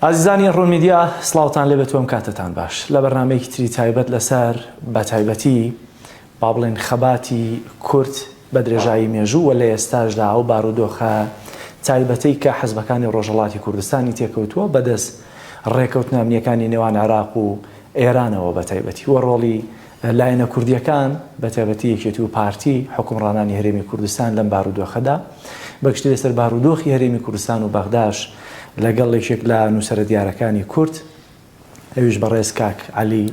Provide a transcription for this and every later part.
ئازیزانی ڕوون میدیا سڵاوتان لێ بێت و ئەم کاتەتان باش لە بەرنامەیەکی تری تایبەت لەسەر بە تایبەتی با بڵێن خەباتی کورد بە درێژایی مێژوو و لە ئێستاشدا ئەو بارودۆخە تایبەتەی کە حزبەکانی ڕۆژهەڵاتی کوردستانی تێکەوتووە بەدەست ڕێکەوتنە ئەمنییەکانی نێوان عێراق و ئێرانەوە بە تایبەتی و ڕۆڵی لایەنە کوردییەکان، بەتایبەتی یەکێتی و پارتی، حوکمڕانانی هەرێمی کوردستان لەم بارودۆخەدا، بەگشتی لەسەر بارودۆخی هەرێمی کوردستان و بەغداش لەگەڵ یەکێک لە نووسەرە دیارەکانی کورد، ئەویش بەڕێز کاک عەلی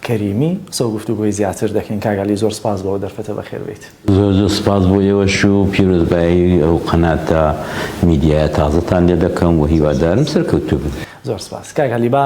کەریمی قسە و گفتوگۆی زیاتر دەکەین. کاک عەلی زۆر سپاس بۆ ئەو دەرفەتە، بەخێر بێیت. زۆر زۆر سپاس بۆ ئێوەش و پیرۆزبایی ئەو قەناتە میدیایە تازەتان لێ دەکەم و هیوادارم سەرکەوتوو بن. زۆر سپاس. کاک عەلی با.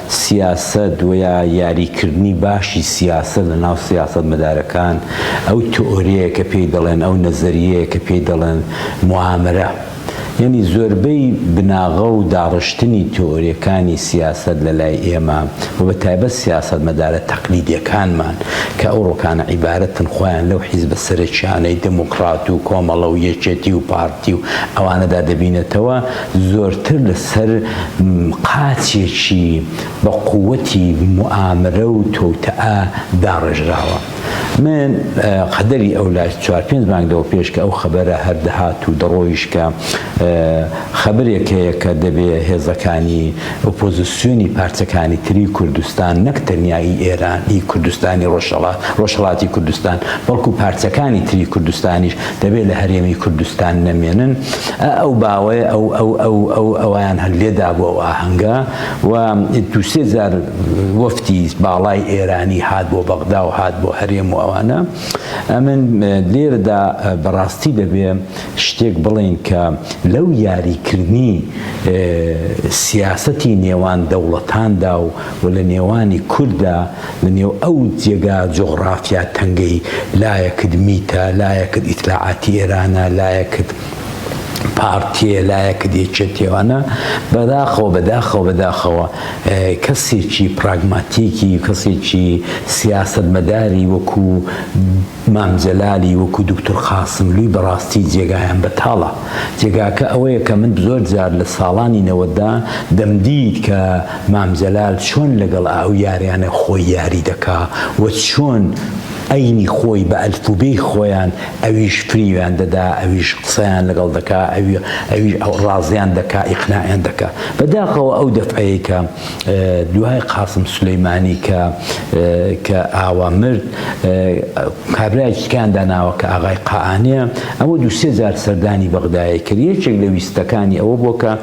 سیاسەت وەیا یاری کردنی باشی سیاسەت لە ناو سیاسەت مەدارەکان ئەو تئۆریەیە کە پێی دەڵێن ئەو نەزەریەیە کە پێی دەڵێن موامرە یانی زۆربەی بناغە و داڕشتنی تئۆریەکانی سیاسەت لە لای ئێمە و بە تایبەت سیاسەت مەدارە تەقلیدیەکانمان کە ئەو ڕۆکانە عیبارەتن خۆیان لەو حیزبە سەرەکیانەی دموکڕات و کۆمەڵە و یەکێتی و پارتی و ئەوانەدا دەبینێتەوە زۆرتر لە سەر قاچێکی بە قووەتی موئامرە و توتئە داڕێژراوە. من قەدەری ئەو لە چوار پێنج مانگ لەوە پێش کە ئەو خەبەرە هەر دەهات و دەڕۆیشت کە خەبەرێک هەیە کە دەبێ هێزەکانی ئۆپۆزیسیۆنی پارچەکانی تری کوردستان نەک تەنیا ئی ئێران، ئی کوردستانی ڕۆژهەڵات، ڕۆژهەڵاتی کوردستان بەڵکوو پارچەکانی تری کوردستانیش دەبێ لە هەرێمی کوردستان نەمێنن ئە ئەو باوەیە ئەو ئەو ئەو ئەو ئەویان هەر لێدا بۆ ئەو ئاهەنگە و دووسێ جار وەفتی باڵای ئێرانی هات بۆ بەغدا و هات بۆ هەرێم و ئەوانە ئەمن لێرەدا بەڕاستی دەبێ شتێک بڵێن کە لەو یاریکردنی سیاسەتی نێوان دەوڵەتاندا و و لە نێوانی کووردا لە نێو ئەو جێگا جوغڕافیا تەنگەی لایەکت میتە، لایەکت ئیتلاعاتی ئێرانە، لایەکت پارتیە، لایەکت یەکێتیە وانە بەداخەوە بەداخەوە بەداخەوە کەسێکی پراگماتیکی کەسێکی سیاسەتمەداری وەکو مام جەلالی وەکو دوکتور قاسملوی بەڕاستی جێگایان بەتاڵە جێگاکە ئەوەیە کە من زۆر جار لە ساڵانی نەوەددا دەمدیت کە مام جەلال چۆن لەگەڵ ئەو یاریانە خۆی یاری دەکا و چۆن ئەینی خۆی بە ئەلفوبێی خۆیان ئەویش فریویان دەدا ئەویش قسەیان لەگەڵ دەکا ئەوی ئەویش ڕازیان دەکا ئیقناعیان دەکا بەداخەوە ئەو دەفعەی کە دوای قاسم سولەیمانی کە کە ئاوا مرد کابرایەکی تکان داناوە کە ئاغای قائانەیە ئەوە دوو سێ جار سەردانی بەغدایە کرد یەکێک لە ویستەکانی ئەوە بووە کە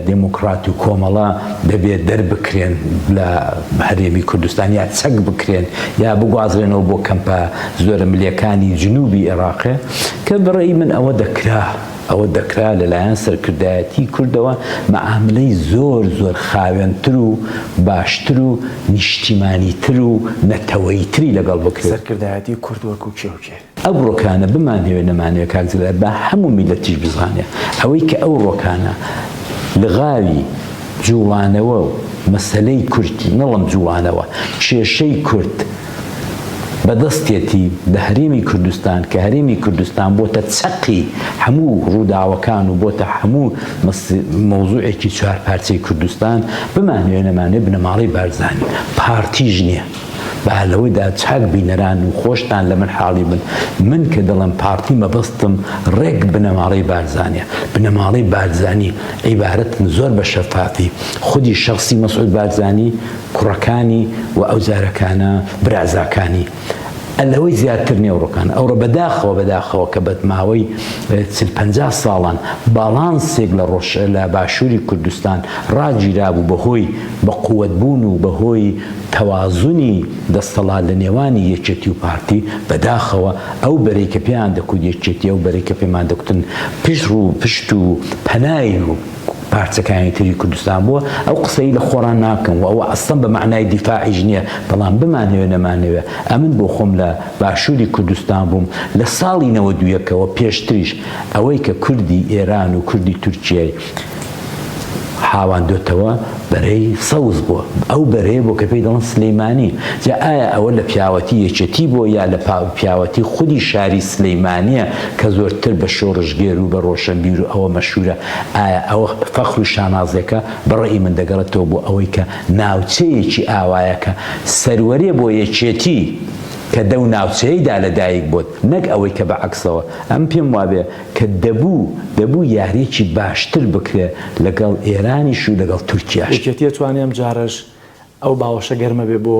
دێموکڕات و کۆمەڵە دەبێ دەربکرێن لە هەرێمی کوردستان یا چەک بکرێن یا بگوازرێنەوە بۆ کەمپە زۆرەملێکانی جنووبی ئێڕاقێ کە بەڕێی من ئەوە دەکرا. ئەوە دەکرا لەلایەن سەرکردایەتی کوردەوە مەعاملەی زۆر زۆر خاوێنتر و باشتر و نیشتیمانی تر و نەتەوەیی تری لەگەڵ بکرێ. سەرکردایەتی کورد وەکو کێ و کێ؟ ئەو ڕۆکانە بمانەوێ نەمانەوێ کاک جەلال با هەموو میللەتیش بزانێ ئەوەی کە ئەو ڕۆکانە لغاوی جوڵانەوە و مەسەلەی کورد نەڵێم جوڵانەوە کێشەی کورد، بەدەستێتی بە هەرێمی کوردستان کە هەرێمی کوردستان بۆتە چەقی هەموو ڕووداوەکان و بۆتە هەموو مەوزوعێکی چوار پارچەی کوردستان بمانوێ نەمانێ بنەماڵەی بارزانی پارتیژ نییە با لەوەدا چاک بینەران و خۆشتان لە من حاڵی بن من کە دەڵم پارتی مەبەستم ڕێک بنەماڵەی بارزانە بنەماڵەی بارزانی عیبارەتن زۆر بە شەفافی خودی شخصی مەسعود بارزانی کوڕەکانی و ئەوجارەکانە برازاکانی ئە لەوەی زیاتر نێوڕۆکان ئەوڕۆ بەداخەوە بەداخەوە کە بەدماوەی چل پەنجا ساڵان باڵانسێک لە ڕۆژ لە باشووری کوردستان ڕاگیرابوو بەهۆی بە قووەت بوون و بەهۆی تەوازنی دەستەڵات لە نێوانی یەکێتی و پارتی بەداخەوە ئەو بەرەی کە پێیان دەکوت یەکێتی ئەو بەرەی کە پێمان دەکوتن پشت ڕوو پشت و پەنای پارچەکانی تری کوردستان بووە ئەو قسەی لە خۆڕان ناکەم و ئەوە ئەسڵەن بە مەعنای دیفاعیش نییە بەڵام بمانەوێ نەمانەوێ ئەمن بۆ خۆم لە باشووری کوردستان بووم لە ساڵی نەوەد و یەک ەوە پێشتریش ئەوەی کە کوردی ئێران و کوردی تورکیای حاواندۆتەوە بەرەی سەوز بووە ئەو بەرەیە بۆ کە پێی دەڵن سلەیمانی جا ئایا ئەوە لە پیاوەتی یەکێتی بۆ یا لە پیاوەتی خودی شاری سلەیمانە کە زۆرتر بە شۆڕشگێر و بە ڕۆشنبیر و ئەوە مەشورە ئایا ئەوە فەخر و شانازێکە؟ بە ڕەئی من دەگەڕێتەوە بۆ ئەوەی کە ناوچەیەکی ئاوایە کە سەروەرێ بۆ یەکێتی کە دەو ناوچەیەیدا لە دایک بۆت نەک ئەوەی کە بە عەکسەوە ئەم پێم وابێ کە دەبوو دەبوو یاریەکی باشتر بکرێ لەگەڵ ئێرانیش و لەگەڵ تورکیاش. یەکێتی ئەتوانێ ئەم جارەش ئەو باوەشە گەرمە بێ بۆ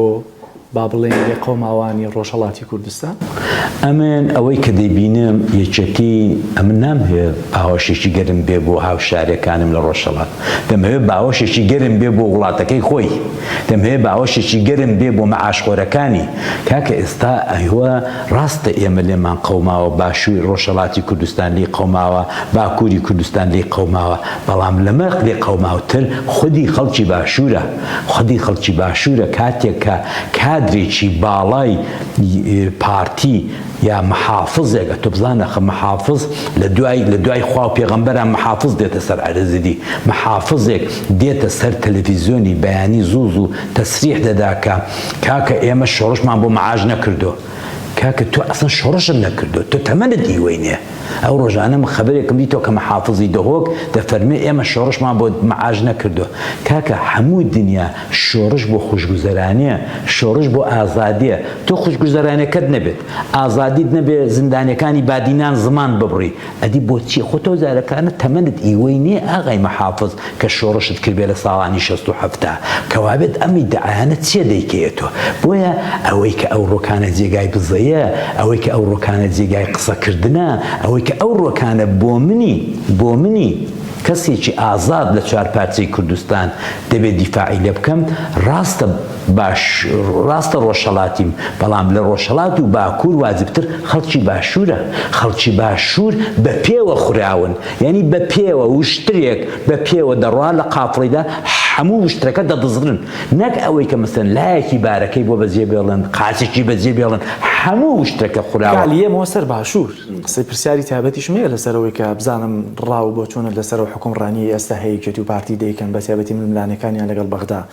با بڵێین لێقەوماوانی ڕۆژهەڵاتی کوردستان. ئەمن ئەوەی کە دەیبینم یەکێتی، ئەمن نامهەوێ باوەشێکی گەرم بێ بۆ هاوشارەکانم لە ڕۆژهەڵات، دەمهەوێ باوەشێکی گەرم بێ بۆ وڵاتەکەی خۆی، دەمهەوێ باوەشێکی گەرم بێ بۆ مەعاشخۆرەکانی. کاکە ئێستا ئێوە ڕاستە ئێمە لێمان قەوماوە، باشووری ڕۆژهەڵاتی کوردستان لێی قەوماوە، باکووری کوردستان لێی قەوماوە، بەڵام لەمە لێقەوماوتر خودی خەڵکی باشوورە. خودی خەڵکی باشوورە کاتێک کە کادرێکی باڵای پارتی یا محافزێک ئەتۆ بزانە ئەخە محافز لە دوای لە دوای خوا و پێغەمبەران محافز دێتە سەر عەرزدی محافزێک دێتە سەر تەلەفیزیۆنی بەیانی زوو زوو تەسریح دەدا کە کاکە ئێمە شۆڕشمان بۆ مەعاش نەکردووە کاکە تۆ ئەسڵەن شۆڕشت نەکردووە، تۆ تەمەنت نیوەینەیە، ئەو ڕۆژانە من خەبەرێکم دیتەوە کە محافزی دهۆک دەفەرموێ ئێمە شۆڕشمان بۆ مەعاش نەکردووە، کاکە هەموو دنیا شۆڕش بۆ خوشگوزەرانییە، شۆڕش بۆ ئازادییە، تۆ خوشگوزەرانییەکەت نەبێت، ئازادیت نەبێت، زیندانییەکانی بادینان زمانت ببڕی، ئەدی بۆ چیە خۆ تۆ جارەکانە تەمەنت ئیوەی نیە ئاغای محافز کە شۆڕشت کردبێ لە ساڵانی شەست و حەفتا کەوابێت ئەم ئیدعایانە چیە دەیکەیە تۆ بۆیە ئەوەی کە ئەو ڕۆکانە جێگای بزەیە ئەوەی کە ئەو ڕۆکانە جێگای قسە کردنە ئەوەی کە ئەو ڕۆکانە بۆ منی بۆ منی کەسێکی ئازاد لە چوار پارچەی کوردستان دەبێ دیفاعی لێ بکەم ڕاستە باش ڕاستە ڕۆژهەڵاتیم بەڵام لە ڕۆژهەڵات و باکوور واجبتر خەڵکی باشوورە خەڵکی باشوور بە پێوە خوراون یانی بە پێوە وشترێک بە پێوە دەڕوا لە قافڵەیدا هەموو وشترەکە دەدزڕن نەک ئەوەی کە مەسەن لایەکی بارەکەی بۆ بەجێ بێڵن قاچێکی بەجێ بێڵن هەموو وشترەکە خوراوە گالیە مۆ سەر باشوور قسەی پرسیاری تابەتیشم هەیە لەسەرەوەی کە بزانم ڕاو بۆ چۆنە لەسەرەوە حکوم ڕانیە ئێستا هەیەکێتی و پارتی دەیکەن بە تابەتی ململانێکانیان لەگەڵ بەغدا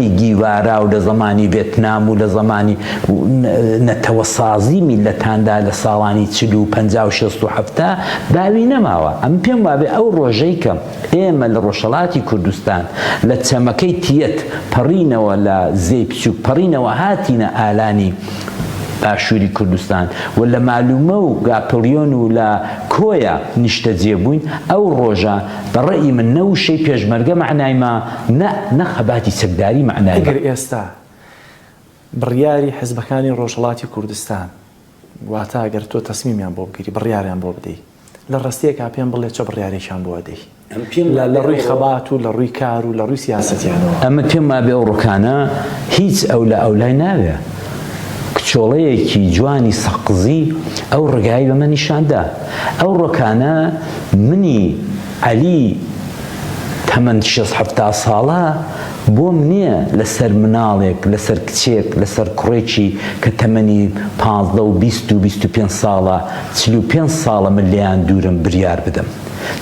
گیواراو لە زمانی ڤێتنام و لە زمانی نەتەوەسازی میللەتاندا لە ساڵانی چل و پەنجا و شەست و حەفتا باوی نەماوە ئەم پێم وابێ ئەو ڕۆژەی کە ئێمە لە ڕۆژهەڵاتی کوردستان لە چەمەکەی تیەت پەڕینەوە لە زێی بچووک پەڕینەوە هاتینە ئالانی باشووری کوردستان و لە مالومە و گاپڵیۆن و لە کۆیە نیشتەجێ بووین ئەو ڕۆژە بە ڕەئی من نە وشەی پێشمەرگە مەعنای ما نە نە خەباتی چەکداری مەعنای ما. ئەگەر ئێستا بڕیاری حزبەکانی ڕۆژهەڵاتی کوردستان واتە ئەگەر تۆ تەسمیمیان بۆ بگری بڕیاریان بۆ بدەی لە ڕەستەیەکا پێم بڵێ چە بڕیارێکیان بۆ ئەدەی لە لە ڕووی خەبات و لە ڕووی کار و لە ڕووی سیاسەتیانەوە؟ ئەمن پێم وابێ ئەو ڕکانە هیچ ئەولا ئەولای ناوێ کچۆڵەیەکی جوانی سەقزی ئەو ڕگایی بەمە نیشان دا. ئەو ڕۆکانە منی عەلی تەمەن شەست حەفتا ساڵە بۆم نیە لە سەر مناڵێک لە سەر کچێک لە سەر کوڕێکی کە تەمەنی پازدە و بیست و بیست و پێنج ساڵە چل و پێنج ساڵە من لێیان دوورم بریار بدەم.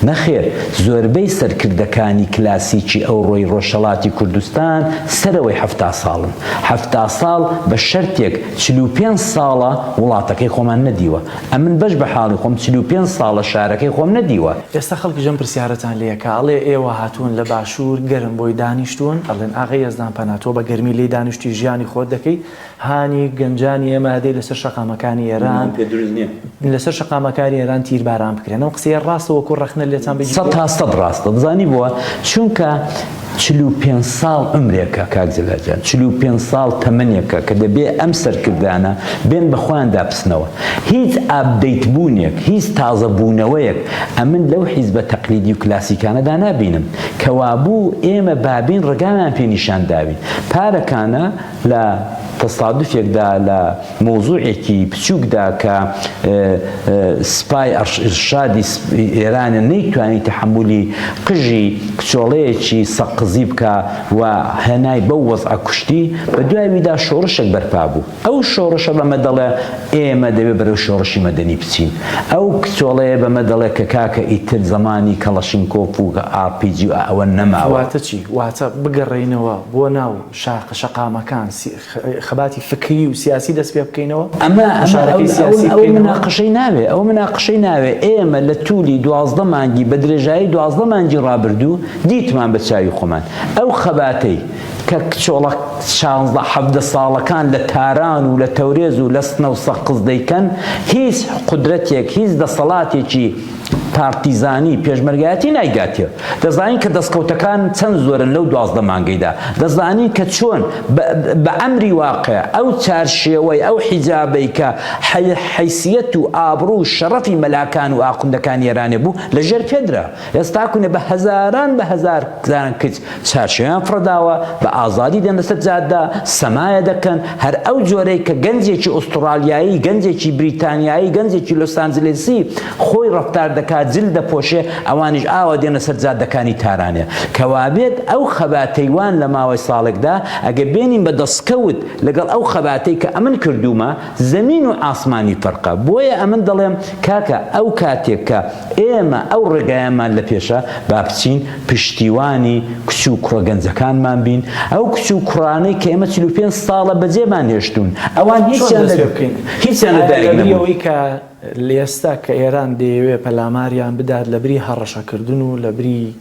نەخێر، زۆربەی سەرکردەکانی کلاسیکی ئەوڕۆی ڕۆژهەڵاتی کوردستان سەرەوەی حەفتا ساڵن. حەفتا ساڵ بە شەرتێک چل و پێنج ساڵە وڵاتەکەی خۆمان نەدیوە. ئەمن بەش بە حاڵی خۆم چل و پێنج ساڵە شارەکەی خۆم نەدیوە. ئێستا خەڵکیش ئەم پرسیارەتان لێ ئەکا، ئەڵێ ئێوە هاتوون لە باشوور گەرم بۆی دانیشتوون، ئەڵێن ئاغای یەزدان پەنا تۆ بە گەرمی لێی دانیشتووی ژیانی خۆت دەکەی، هانی گەنجانی ئێمە ئەدەی لەسەر شەقامەکانی ئێران لەسەر شەقامەکانی ئێران تیرباران بکرێن ئەم قسەیە ڕاستە وەکو ڕەخنە لێتان بگیرێت سەد تا سەد ڕاستە دەزانی بۆ چونکە چل و پێنج ساڵ عومرێکە کاک جەلال جان چل و پێنج ساڵ تەمەنێکە کە دەبێ ئەم سەرکردانە بێن بە خۆیاندا بچنەوە هیچ ئابدەیت بوونێک هیچ تازە بوونەوەیەک ئەمن لەو حیزبە تەقلیدی و کلاسیکانەدا نابینم کەوابوو ئێمە بابین ڕێگایان پێ نیشان داوین پارەکانە لە تەسادفێکدا لە مەوزوعێکی بچووکدا کە سپای ئەڕشادی ئێرانە نەیتوانی تەحەمولی قژی کچۆڵەیەکی سەقزی بکا و هێنای بەو وەزعە کوشتی، بە دواویدا شۆڕشێک بەرپا بوو. ئەو شۆڕشە بەمە دەڵێ ئێمە دەبێ بەرەو شۆڕشی مەدەنی بچین. ئەو کچۆڵەیە بەمە دەڵێ کە کاکە ئیتر زەمانی کەڵەشینکۆف و ئاڕپیجی و ئەوە نەماوە. واتە چی؟ واتە بگەڕێینەوە بۆ ناو. شاخە شەقامەکان، خەباتی فکریی و سیاسی دەست پێ بکەینەوە، گوشارەکەی سیاسی بکەینەوە. ئەوە مناقشەی ناوێ، ئەوە مناقشەی ناوێ، ئێمە لە توولی دوازدە مانگی، بە درێژایی دوازدە مانگی ڕابردوو دیتمان بە چاوی خۆمان، ئەو خەباتەی کە کچۆڵە شانزدە حەڤدە ساڵەکان لە تاران و لە تەورێز و لە سنە و سەقز دەیکەن، هیچ قودرەتێک، هیچ دەسەڵاتێکی. پارتیزانی، پێشمەرگایەتی نایگاتێ. دەزانین کە دەستکەوتەکان چەند زۆرن لەو دوازدە مانگەیدا. دەزانین کە چۆن بە ئەمری واقیع ئەو چارشێوەی، ئەو حیجابەی کە حەیسیەت و ئابڕوو و شەڕەفی مەلاکان و ئاخوندەکانی ئێرانێ بوو لە ژێر پێ درا. ئێستاکونە بە هەزاران بە هەزار زارن کچ چارشێویان فڕێداوە، بە ئازادی دێنە سەر جادە، سەمایە دەکەن، هەر ئەو جۆرەی کە گەنجێکی ئوستڕالیایی، گەنجێکی بریتانیایی، گەنجێکی لۆسانجلێسی خۆی ڕەفتار دەکات، جل دەپۆشێ، ئەوانیش ئاوا دێنە سەر جادەکانی تارانێ. کە وابێت ئەو خەباتەی وان لە ماوەی ساڵێکدا، ئەگەر بێنین بە دەسکەوت لەگەڵ ئەو خەباتەی کە ئەمن کردوومە، زەمین و ئاسمانی فەرقە. بۆیە ئەمن دەڵێم کاکە ئەو کاتێک کە. ئێمە ئەو ڕێگایەمان لە پێشە، با بچین پشتیوانی کچ و کوڕە گەنجەکانمان بین، ئەو کچ و کوڕانەی کە ئێمە چل و پێنج ساڵە بەجێمان هێشتوون، ئەوان هیچیان لە هیچیان لە دایک نەبوون. ئایا لە بری ئەوەی کە لە ئێستا کە ئێران دەیەوێت پەلاماریان بدات لە بری هەڕەشەکردن و لە بری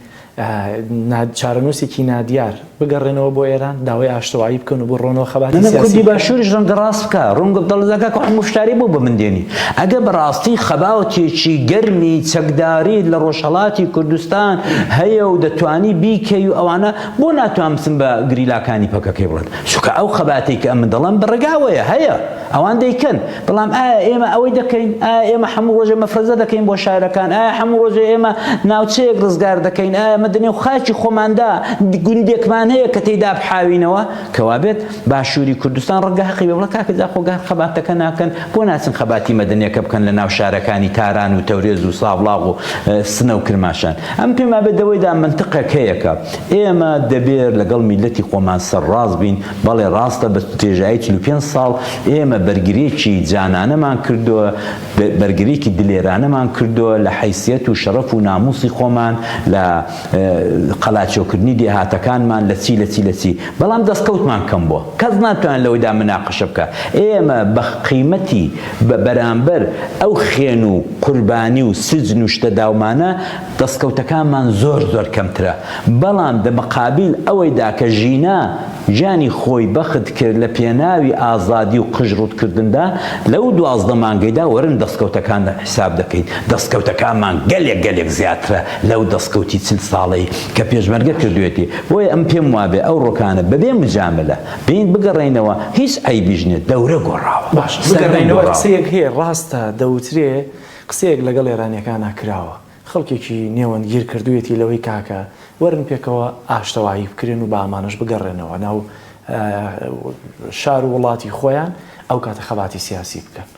چارەنووسێکی نادیار، بگەڕێنەوە بۆ ئێران، داوای ئاشتەوایی بکەن و بڕۆنەوە خەباتی سیاسی بکەن. کوردی باشووریش ڕەنگە ڕاست بکا، ڕوونکە دەڵێت کە هەموو شتاری بۆ بە من دێنی. ئەگەر بە ڕاستی خەباتێکی گەرمی چەکداریت لە ڕۆژهەڵاتی کوردستان هەیە و دەتوانی بیکەی و ئەوانە، بۆ ناتوان بچن بە گریلاکانی پەکەکەی بڵێن؟ چونکە ئەو خەباتەی کە ئەمن دەڵێم بە ڕێگا ئەوەیە، هەیە. ئەوان دەیکەن، بەڵام ئایا ئێمە ئەوەی دەکەین؟ ئایا ئێمە هەموو ڕۆژێ مەفرەزە دەکەین بۆ شارەکان؟ ئایا هەموو ڕۆژێ ئێمە ناوچەیەک ڕزگار دەکەین؟ ئایا ئێمە دەنێو خاکی خۆماندا گوندێکمان هەیە کە تێیدا بحاوینەوە؟ کە وابێت باشووری کوردستان ڕەنگە هەقی بێ، بەڵام کاکە جا خۆ گەر خەباتەکە ناکەن بۆ ناچن خەباتی مەدەنیەکە بکەن لە ناو شارەکانی تاران و تەورێز و سابڵاغ و سنە و کرماشان؟ ئەم پێمابێت دەوەیدا مەنتقێک هەیە کە ئێمە دەبێت لەگەڵ میللەتی خۆمان سەرڕاست بین، بەڵێ ڕاستە بە درێژایی چل و پێنج ساڵ ئێمە بەرگریێکی جانانەمان کردووە، بەرگریێکی دلێرانەمان کردووە لە حەیسیەت و شەڕەف و ناموسی خۆمان، لە قەلاچۆکردنی دێهاتەکانمان، لە چی لە چی لە چی، بەڵام دەستکەوتمان کەم بووە، کەس ناتوانێت لەوەیدا مناقەشە بکا، ئێمە بە قیمەتی بە بەرامبەر ئەو خێن و قوربانی و سجن و شتە داومانە، دەستکەوتەکانمان زۆر زۆر کەمترە، بەڵام دە مقابیل ئەوەیدا کە ژینا گیانی خۆی بەخت کرد لە پێناوی ئازادی و قژ ڕووتکردندا لەو دوازدە مانگەیدا وەرن دەستکەوتەکان حیساب دەکەین دەستکەوتەکانمان گەلێک گەلێک زیاترە لەو دەستکەوتی چل ساڵەی کە پێشمەرگە کردوێتی بۆیە ئەم پێم وابێ ئەو ڕۆکانە بەبێ مجاملە بێین بگەڕێینەوە هیچ عەیبیش نیە دەورە گۆڕاوە باشە بگەڕێینەوە قسەیەک هەیە ڕاستە دەوترێ قسەیەک لەگەڵ ئێرانیەکانا کراوە خەڵکێکی نێوەندگیر کردویەتی لەوەی کاکە وەرن پێکەوە ئاشتەوایی بکرێن و با ئەمانەش بگەڕێنەوە ناو شار و وڵاتی خۆیان ئەو کاتە خەباتی سیاسی بکەن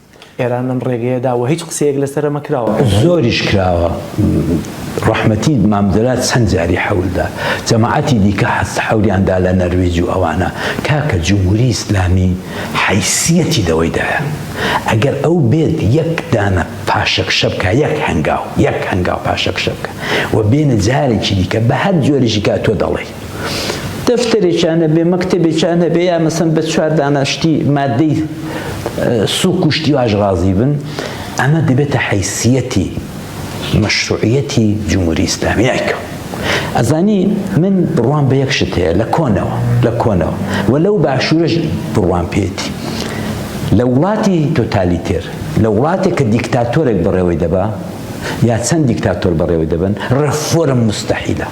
ئێران لەم ڕێگەیە دا و هیچ قسەیەک لەسەر ئەمە کراوە زۆریش کراوە ڕەحمەتی مامدرا چەند جاری حەول دا جەماعەتی دیکە حەست حەولیان دا لە نەرویج و ئەوانە کاکە جمهوری ئیسلامی حەیسیەتی لەوەی دایە. ئەگەر ئەو بێت یەک دانە پاشەکشە بکە یەک هەنگاو یەک هەنگاو پاشەکشە بکە و بێنە جارێکی دیکە بە هەر جۆرێکی کا تۆ دەڵێی دەفتەرێکیان هەبێ مەکتەبێکیان هەبێ یا مەسەن بە چوار دانە شتی مادەی سوک و شتی واش ڕازی بن ئەمە دەبێتە حیسیەتی مەشروعیەتی جمهوری ئیسلامی نایکەم ئەزانی من بڕوام بە یەک شت هەیە لە کۆنەوە لە کۆنەوە و لەو باشوورش بڕوام پێێتی لە وڵاتی تۆتالیتێر لە وڵاتێک کە دیکتاتۆرێک بەڕێوەی دەبا یا چەند دیکتاتۆر بەڕێوەی دەبن ڕێفۆرم مستحیلە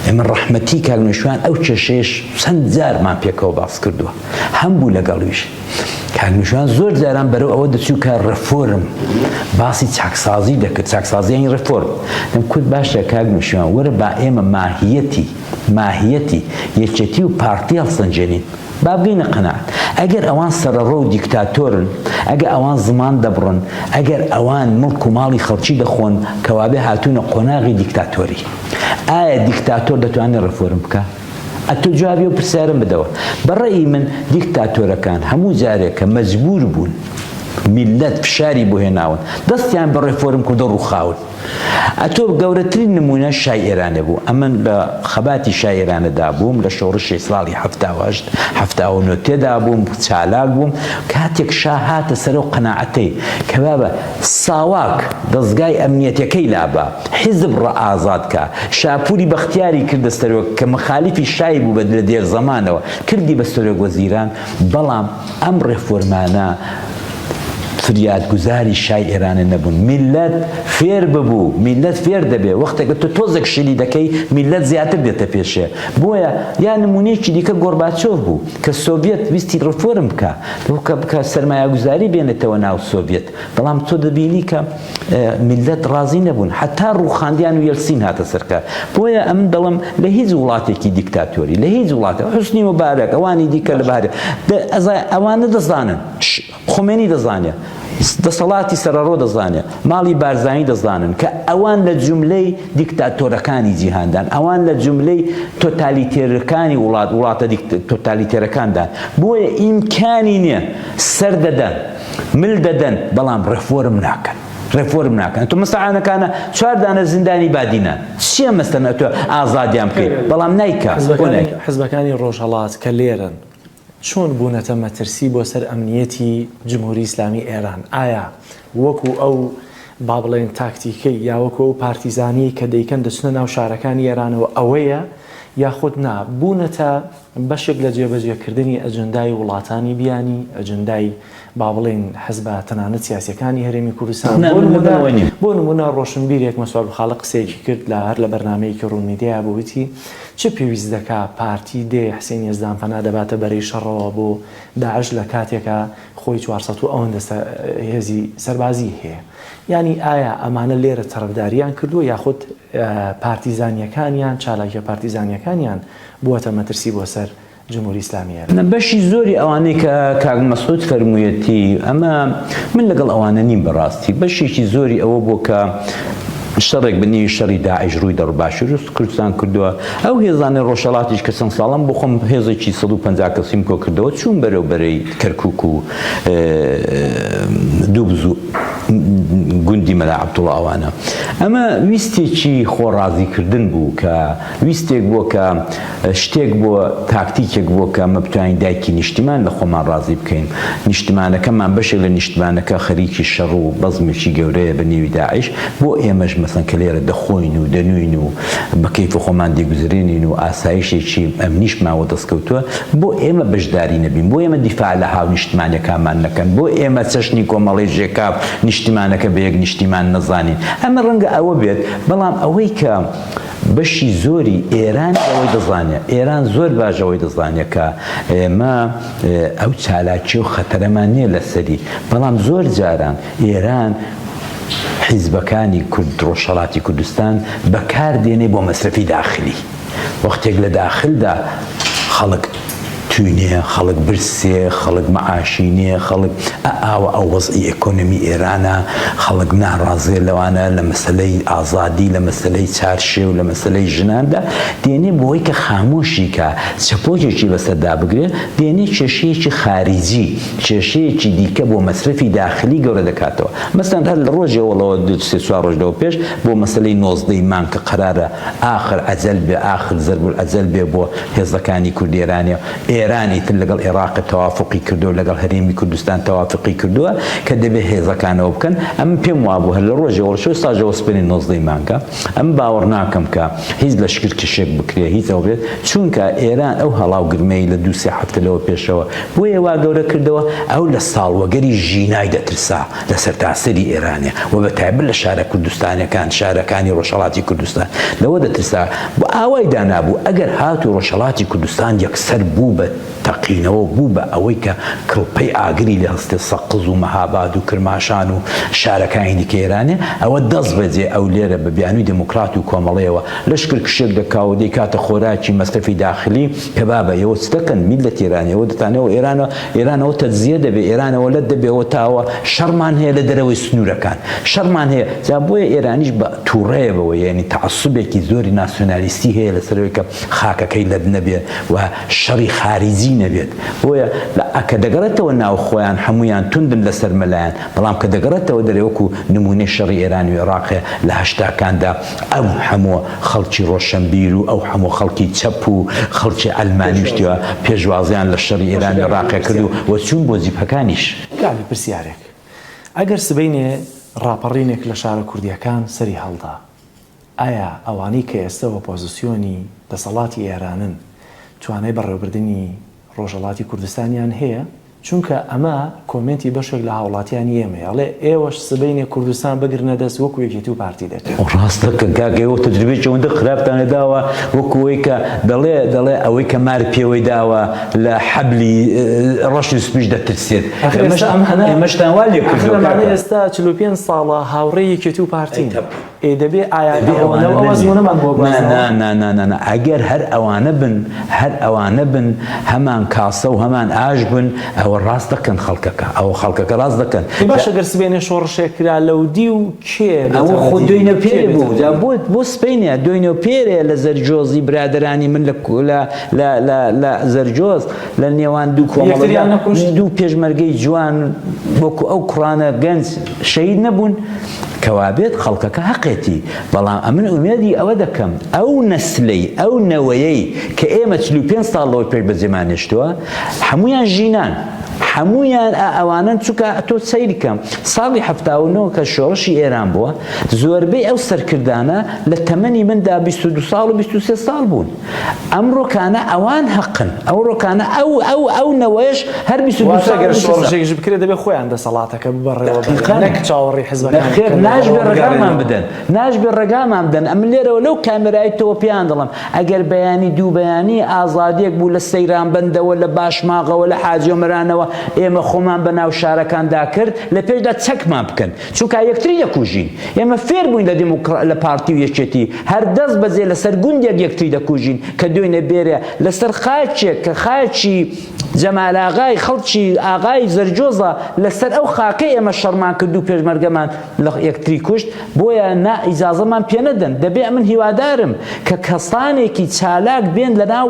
ئێمە ڕەحمەتی کاگنشوان ئەو کێشەیەش چەند جارمان پێکەوە باس کردووە هەم بوو لەگەڵویش کاکنیشان زۆر جاران بەرەو ئەوە دەچوو کە ڕفۆرم باسی چاکسازی دەکرد چاکسازیانی ڕفۆرم دەم کورد باشە کاکنیشان وەرە با ئێمە ماهیەتی ماهیەتی یەکێتی و پارتی هەڵسەنجێنین بابگەینە قەنات ئەگەر ئەوان سەرڕۆ و دیکتاتۆرن ئەگە ئەوان زمان دەبڕن ئەگەر ئەوان مڵک و ماڵی خەڵکی دەخۆن کەوابێ هاتوونە قۆناغی دیکتاتۆری ئایا دیکتاتۆر دەتوانێت ڕفۆرم بکە ئەتۆ جوابی ئەو پرسیارەم بدەوە. بە ڕەئی من دیکتاتۆرەکان هەموو جارێک کە مەجبوور بوون میللەت فشاری بۆ هێناون دەستیان بە ڕێفۆرم کردو ڕووخاون. ئەتۆ گەورەترین نموونە شای ئێرانێ بوو. ئەمن لە خەباتی شای ئێرانێ دا بووم، لە شۆڕشی ساڵی حەفتا و هەشت، حەفتا و نۆ تێدا بووم، چالاک بووم. کاتێک شا هاتە سەر ئەو قەناعەتەی کە بابە، ساواک دەزگای ئەمنیەتەکەی لا بە، حیزب ڕآزاد کە، شاپوری بەختیاری کردە سەرۆک کە مخالیفی شای بوو بە لە دێرزەمانەوە کردی بە سەرۆک وەزیران بەڵام ئەم ڕێفۆرمانە فریاد گوزاری شای ئێرانە نەبوون میللەت فێر ببوو میللەت فێر دەبێ وەختەکە تۆ تۆزێک شلی دەکەی میللەت زیاتر دێتە پێشێ بۆیە یا نمونەیەکی دیکە گۆرباچۆف بوو کە سۆڤیەت ویستی ڕفۆرم بکا بکە بکە سەرمایەگوزاری بێنێتەوە ناو سۆڤیەت بەڵام تۆ دەبینی کە میلەت ڕازی نەبوون حتا ڕوخاندیان و یەلسین هاتە سەرکار بۆیە ئەمن دەڵم لە هیچ وڵاتێکی دیکتاتۆری لە هیچ وڵاتە حوسنی مبارەک ئەوانی دیکە لە بارێ ئەزای ئەوانە دەزانن خومەینی دەزانێ، دەسەڵاتی سەرەڕۆ دەزانێ، ماڵی بارزانی دەزانن کە ئەوان لە جوملەی دیکتاتۆرەکانی جیهاندان، ئەوان لە جوملەی تۆتالیتێررکانی وڵات، وڵاتە تۆتالیتێرەکاندان، بۆیە ئیمکانی نیە، سەر دەدەن، مل دەدەن، بەڵام ڕێفۆرم ناکەن، ڕێفۆرم ناکەن، ئەتۆ مستەعانەکانە چوار دانە زیندانی بادینان، چیە مەستن ئەتۆ ئازادیان بکەی، بەڵام نایکا، بۆ نایکا؟ حزبەکانی ڕۆژهەڵات کە لێرەن، چۆن بوونەتە مەترسی بۆ سەر ئەمنییەتی جمهوری ئیسلامی ئێران؟ ئایا وەکو ئەو با بڵێین تاکتیکەی یا وەکو ئەو پارتیزانیەی کە دەیکەن دەچنە ناو شارەکانی ئێرانەوە ئەوەیە یاخود نا بوونەتە بەشێک لە جێبەجێکردنی ئەجندای وڵاتانی بیانی ئەجندای با بڵێین حزبە تەنانەت سیاسیەکانی هەرێمی کوردستان، بۆ نمونە ڕۆشنبیرێک مەسواد خاڵق قسەیەکی کرد لە هەر لە بەرنامەیەکی ڕوون میدیا بوو وتی چ پێویست دەکا پارتی دێ حسێن یەزدان پەنا دەباتە بەرەی شەڕەوە بۆ داعش لە کاتێکا خۆی چوار سەد و ئەوەندە هێزی سەربازی هەیە یانی ئایا ئەمانە لێرە تەرەفداریان کردووە یاخود پارتیزانیەکانیان چالاکیە پارتیزانیەکانیان بووەتە مەترسی بۆ سەر جمهوری ئیسلامی ئێران. نە بەشی زۆری ئەوانەی کە کاک مەسعود فەرموویەتی ئەمە من لەگەڵ ئەوانە نیم بەڕاستی بەشێکی زۆری ئەوە بوو کە شەڕێک بە نیوی شەڕی داعش ڕووی دەڕ باشووری کوردستان کردووە ئەو هێزانەی ڕۆژهەڵاتیش کە چەند ساڵەم بۆ خۆم هێزێکی سەد و پەنجا کەسیم کۆ کردەوە چووم بەرەو بەرەی کەرکووک و دوو بزوو گوندی مەلا عەبدوڵڵا ئەوانە ئەمە ویستێکی خۆڕازیکردن بوو کە ویستێک بووە کە شتێک بووە، تاکتیکێک بووە کە ئەمە بتوانین دایکی نیشتیمان لە خۆمان ڕازی بکەین. نیشتمانەکەمان بەشێک لە نیشتمانەکە خەریکی شەڕ و بەزمێکی گەورەیە بە نێوی داعش، بۆ ئێمەش مەسەن کە لێرە دەخۆین و دەنووین و بە کەیف خۆمان دەیگوزرێنین و ئاسایشێکی ئەمنیشمان وە دەست کەوتووە، بۆ ئێمە بەشداری نەبین، بۆ ئێمە دیفاع لە هاونیشتمانیەکانمان نەکەن، بۆ ئێمە چەشنی کۆمەڵەی ژێکاف نیشتیمانەکە بە یەک نیشتیمان نەزانین. ئەمە ڕەنگە ئەوە بێت، بەڵام ئەوەی کە. بەشی زۆری ئێران ئەوەی دەزانێ، ئێران زۆر باش ئەوەی دەزانێ کە ئێمە ئەو چالاکی و خەتەرەمان نیە لەسەری، بەڵام زۆر جاران ئێران حیزبەکانی کورد ڕۆژهەڵاتی کوردستان بەکار دێنێ بۆ مەسرەفی داخلی، وەختێک لە داخلدا خەڵک. توی نیە خەڵک برسێ خەڵک مەعاشی نیە خەڵک ئە ئاوە ئە وەزعی ئێکۆنۆمی ئێرانە خەڵک ناڕازێ لەوانە لە مەسەلەی ئازادی لە مەسەلەی چارشێو لە مەسەلەی ژناندا دێنێ بۆی کە خامۆشی کا چەپۆکێکی بەسەر دابگرێ دێنێ کێشەیەکی خاریجی کێشەیەکی دیکە بۆ مەسرەفی داخلی گەورە دەکاتەوە مەسەن هەر لە ڕۆژێ وەڵەوە دوو سێ چوار ڕۆژ لەوە پێش بۆ مەسەلەی نۆزدە ی مانگ کە قەرارە ئاخر ئەجەل بێ ئاخر زەرب الئەجەل بێ بۆ هێزەکانی کوردئێرانێ و ئێران ئیتر لەگەڵ ئێڕاق تەوافوقی کردوە و لەگەڵ هەرێمی کوردستان تەوافوقی کردوە کە دەبێ هێزەکانەوە بکەن ئەمن پێم وابوو هەر لە ڕۆژێ وەڵ شەو ساژەوە سبەینێ نۆزدەی مانگە ئەمن باوەڕ ناکەم کە هیچ لەشکرکشێک بکرێ هیچ ئەوە بێت چوونکە ئێران ئەو هەڵا و گرمەی لە دوو سێ هەفتە لەوە پێشەوە بۆیە وا گەورە کردەوە ئەو لە ساڵوەگەری ژینای دەترسا لە سەرتاسەری ئێرانە و بە تایبەت لە شارە کوردستانەکان شارەکانی ڕۆژهڵاتی کوردستان لەوە دەترسا بۆ ئاوای دانابوو ئەگەر هات و ڕۆژهڵاتی کوردستان یەکسەر بوو بە تەقینەوە بوو بە ئەوەی کە کڵپەی ئاگری لە هەستێ سەقز و مەهاباد و کرماشان و شارەکانی دیکە ئێرانێ ئەوە دەست بەجێ ئەو لێرە بە بیانووی دێموکرات و کۆمەڵەیەوە لەشکر کشێک دەکا و دەیکاتە خۆراکی مەسرەفی داخلی کە بابە ئێوە چ دەکەن میللەتی ئێران ئێوە دەتانەوە ئێرانە ئێران ئەوە تەجزیە دەبێ ئێران ئەوە لەت دەبێ ئەوە تاوە شەڕمان هەیە لە دەرەوەی سنوورەکان شەڕمان هەیە جا بۆیە ئێرانیش بە تووڕەیە بەوە یعنی تعسبێکی زۆری ناسیۆنالیستی هەیە لەسەرەوەی کە خاکەکەی لەت نەبێت و شەڕی خارجی نەبێت بۆیە لە ئەکە دەگەڕێتەوە ناو خۆیان هەمویان توندن لەسەر مەلایەن بەڵام کە دەگەڕێتەوە دەرەوەکو نمونەی شەڕی ئێرانی و عێراقێ لە هەشتاکاندا ئەو هەموو خەڵکی ڕۆشەنبیر و ئەو هەموو خەڵکی چەپ و خەڵکی عەلمانی و شتیوە پێشوازیان لە شەڕی ئێران ئێڕاقێ کرد و وە چوون بۆ جیپەکانیش. کاکە پرسیارێک ئەگەر سبەینێ ڕاپەڕینێک لە شارە کوردیەکان سەری هەڵدا ئایا ئەوانەی کە ئێستە ئۆپۆزسیۆنی دەسەڵاتی ئێرانن توانای بەڕێوەبردنی ڕۆژهەڵاتی کوردستانیان هەیە، چونکە ئەمە کۆمێنتی بەشێک لە هاوڵاتیانی ئێمەیە، ئەڵێ ئێوەش سبەینێ کوردستان بگرنە دەست وەکو یەکێتی و پارتی دەکەن. ڕاست دەکەن کاکە ئێوە تەجروبەیەکی ئەوەندە خراپتان لێداوە وەکو ئەوەی کە دەڵێ دەڵێ ئەوەی کە مار پێوەی داوە لە حەبلی ڕەش و سپیش دەترسێت ئێمەشتان وا لێکردوە کاکە. ئەخر ئەمانە ئێستا چل و پێنج ساڵە هاوڕێی یەکێتی و پارتین. ئێ دەبێ ئایاتی ئەوە لەو ئەزموونەمان بۆ بەرزەوە. نا نا نا نا ئەگەر هەر ئەوانە بن هەر ئەوانە بن هەمان کاسە و هەمان ئاش بن ئەوە ڕاست دەکەن خەڵکەکە ئەوە خەڵکەکە ڕاست دەکەن. ئێ باشە گەر سبەینێ شۆڕشێک کرا لەودیو کێ بێتە ودی؟ ئەوە خۆ دوینە پێرێ بوو جا بۆ بۆ سبەینێ دوینە پێرێ لە زەرجۆزی برادەرانی من لە لە لە لە لە زەرجۆز لە نێوان دوو کۆمەڵگا یەکتریان نەکوشت؟ دوو پێشمەرگەی جوان وەکو ئەو کوڕانە گەنج شەهید نەبوون؟ کەوابێت خەڵکەکە هەقێتی، بەڵام ئەمن ئومێدی ئەوە دەکەم ئەو نەسلەی، ئەو نەوەیەی کە ئێمە چل و پێنج ساڵ لەوەی پێش بەجێمان هێشتووە هەموویان ژینان، هەموویان ئا ئەوانەن چونکە تۆ سەیرکە ساڵی حەفتا و نۆ کە شۆڕشی ئێران بووە زۆربەی ئەو سەرکردانە لە تەمەنی مندا بیست و دوو ساڵ و بیست و سێ ساڵ بوون. ئەم ڕۆکانە ئەوان هەقن ئەو ڕۆکانە ئەو ئەو ئەو نەوەش هەر بیست و دوو ساڵ گەر شۆڕشێکیش بکرێت دەبێت خۆیان دەسەڵاتەکە ببڕێەوە دەقیقا نەک چاوەڕێی حزبەکان بن خێر ناشبێت ڕێگامان بدەن ناشبێت ڕێگامان بدەن ئەم لێرەوە لەو کامێرای تۆوە پێیان دەڵێم ئەگەر بەیانی دوو بەیانی ئازادیەک بوو لە سەیرانبەندەوە لە باشماغەوە لە حاجی ئۆمەرانەوە ئێمە خۆمان بە ناو شارەکاندا کرد لە پێشدا چەکمان بکەن چونکا یەکتری دەکوژین ئێمە فێر بووین لە دیموکڕ لە پارتی و یەکێتی هەر دەست بەجێ لەسەر گوندێک یەکتری دەکوژین کە دوێنێ بێرێ لەسەر خاکێک کە خاکی جەمال ئاغای خەڵکی ئاغای زەرجۆزە لەسەر ئەو خاکەی ئێمە شەڕمان کرد و پێشمەرگەمان لە یەکتری کوشت بۆیە نا ئیجازەمان پێ نەدەن دەبێ ئەمن هیوادارم کە کەسانێکی چالاک بێن لەناو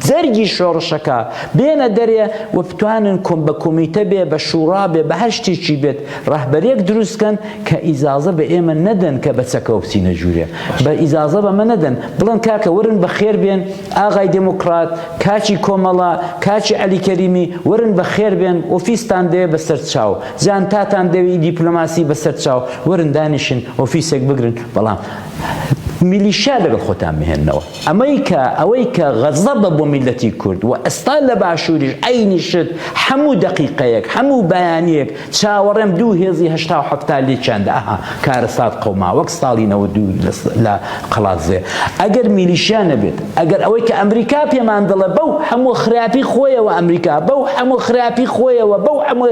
جەرگی شۆڕشەکە بێنە دەرێ و بتوانن کۆم بە کۆمیتە بێ بە شوڕا بێ بە هەر شتێکی بێت ڕەهبەریەک دروست کەن کە ئیجازە بە ئێمە نەدەن کە بە چەکەوە بچینە ژوورێ بە ئیجازە بەمە نەدەن بڵێن کاکە وەرن بە خێر بێن ئاغای دێموکڕات کاکی کۆمەڵە کاکی عەلی کەریمی وەرن بە خێر بێن ئۆفیستان دەیە بە سەر چاو جانتاتان دەوێی دیپلۆماسی بە سەر چاو وەرن دانیشن ئۆفیسێک بگرن بەڵام میلیشیا لەگەڵ خۆتان بهێنەوە ئەمەی کە ئەوەی کە غەزەبە بۆ میلەتی کورد و ئەستا لە باشووریش عینی شت هەموو دەقیقەیەک هەموو بەیانیەک چاوەڕێم دوو هێزی هەشتا و حەفتا لێکیان دە ئەها کارەسات قەوما وەک ستاڵی نەوە دوو لە قەڵادزێ ئەگەر میلیشیا نەبێت ئەگەر ئەوەی کە ئەمریکا پێمان دەڵێ بەو هەموو خراپی خۆیەوە ئەمریکا بەو هەموو خراپی خۆیەوە بەو هەموو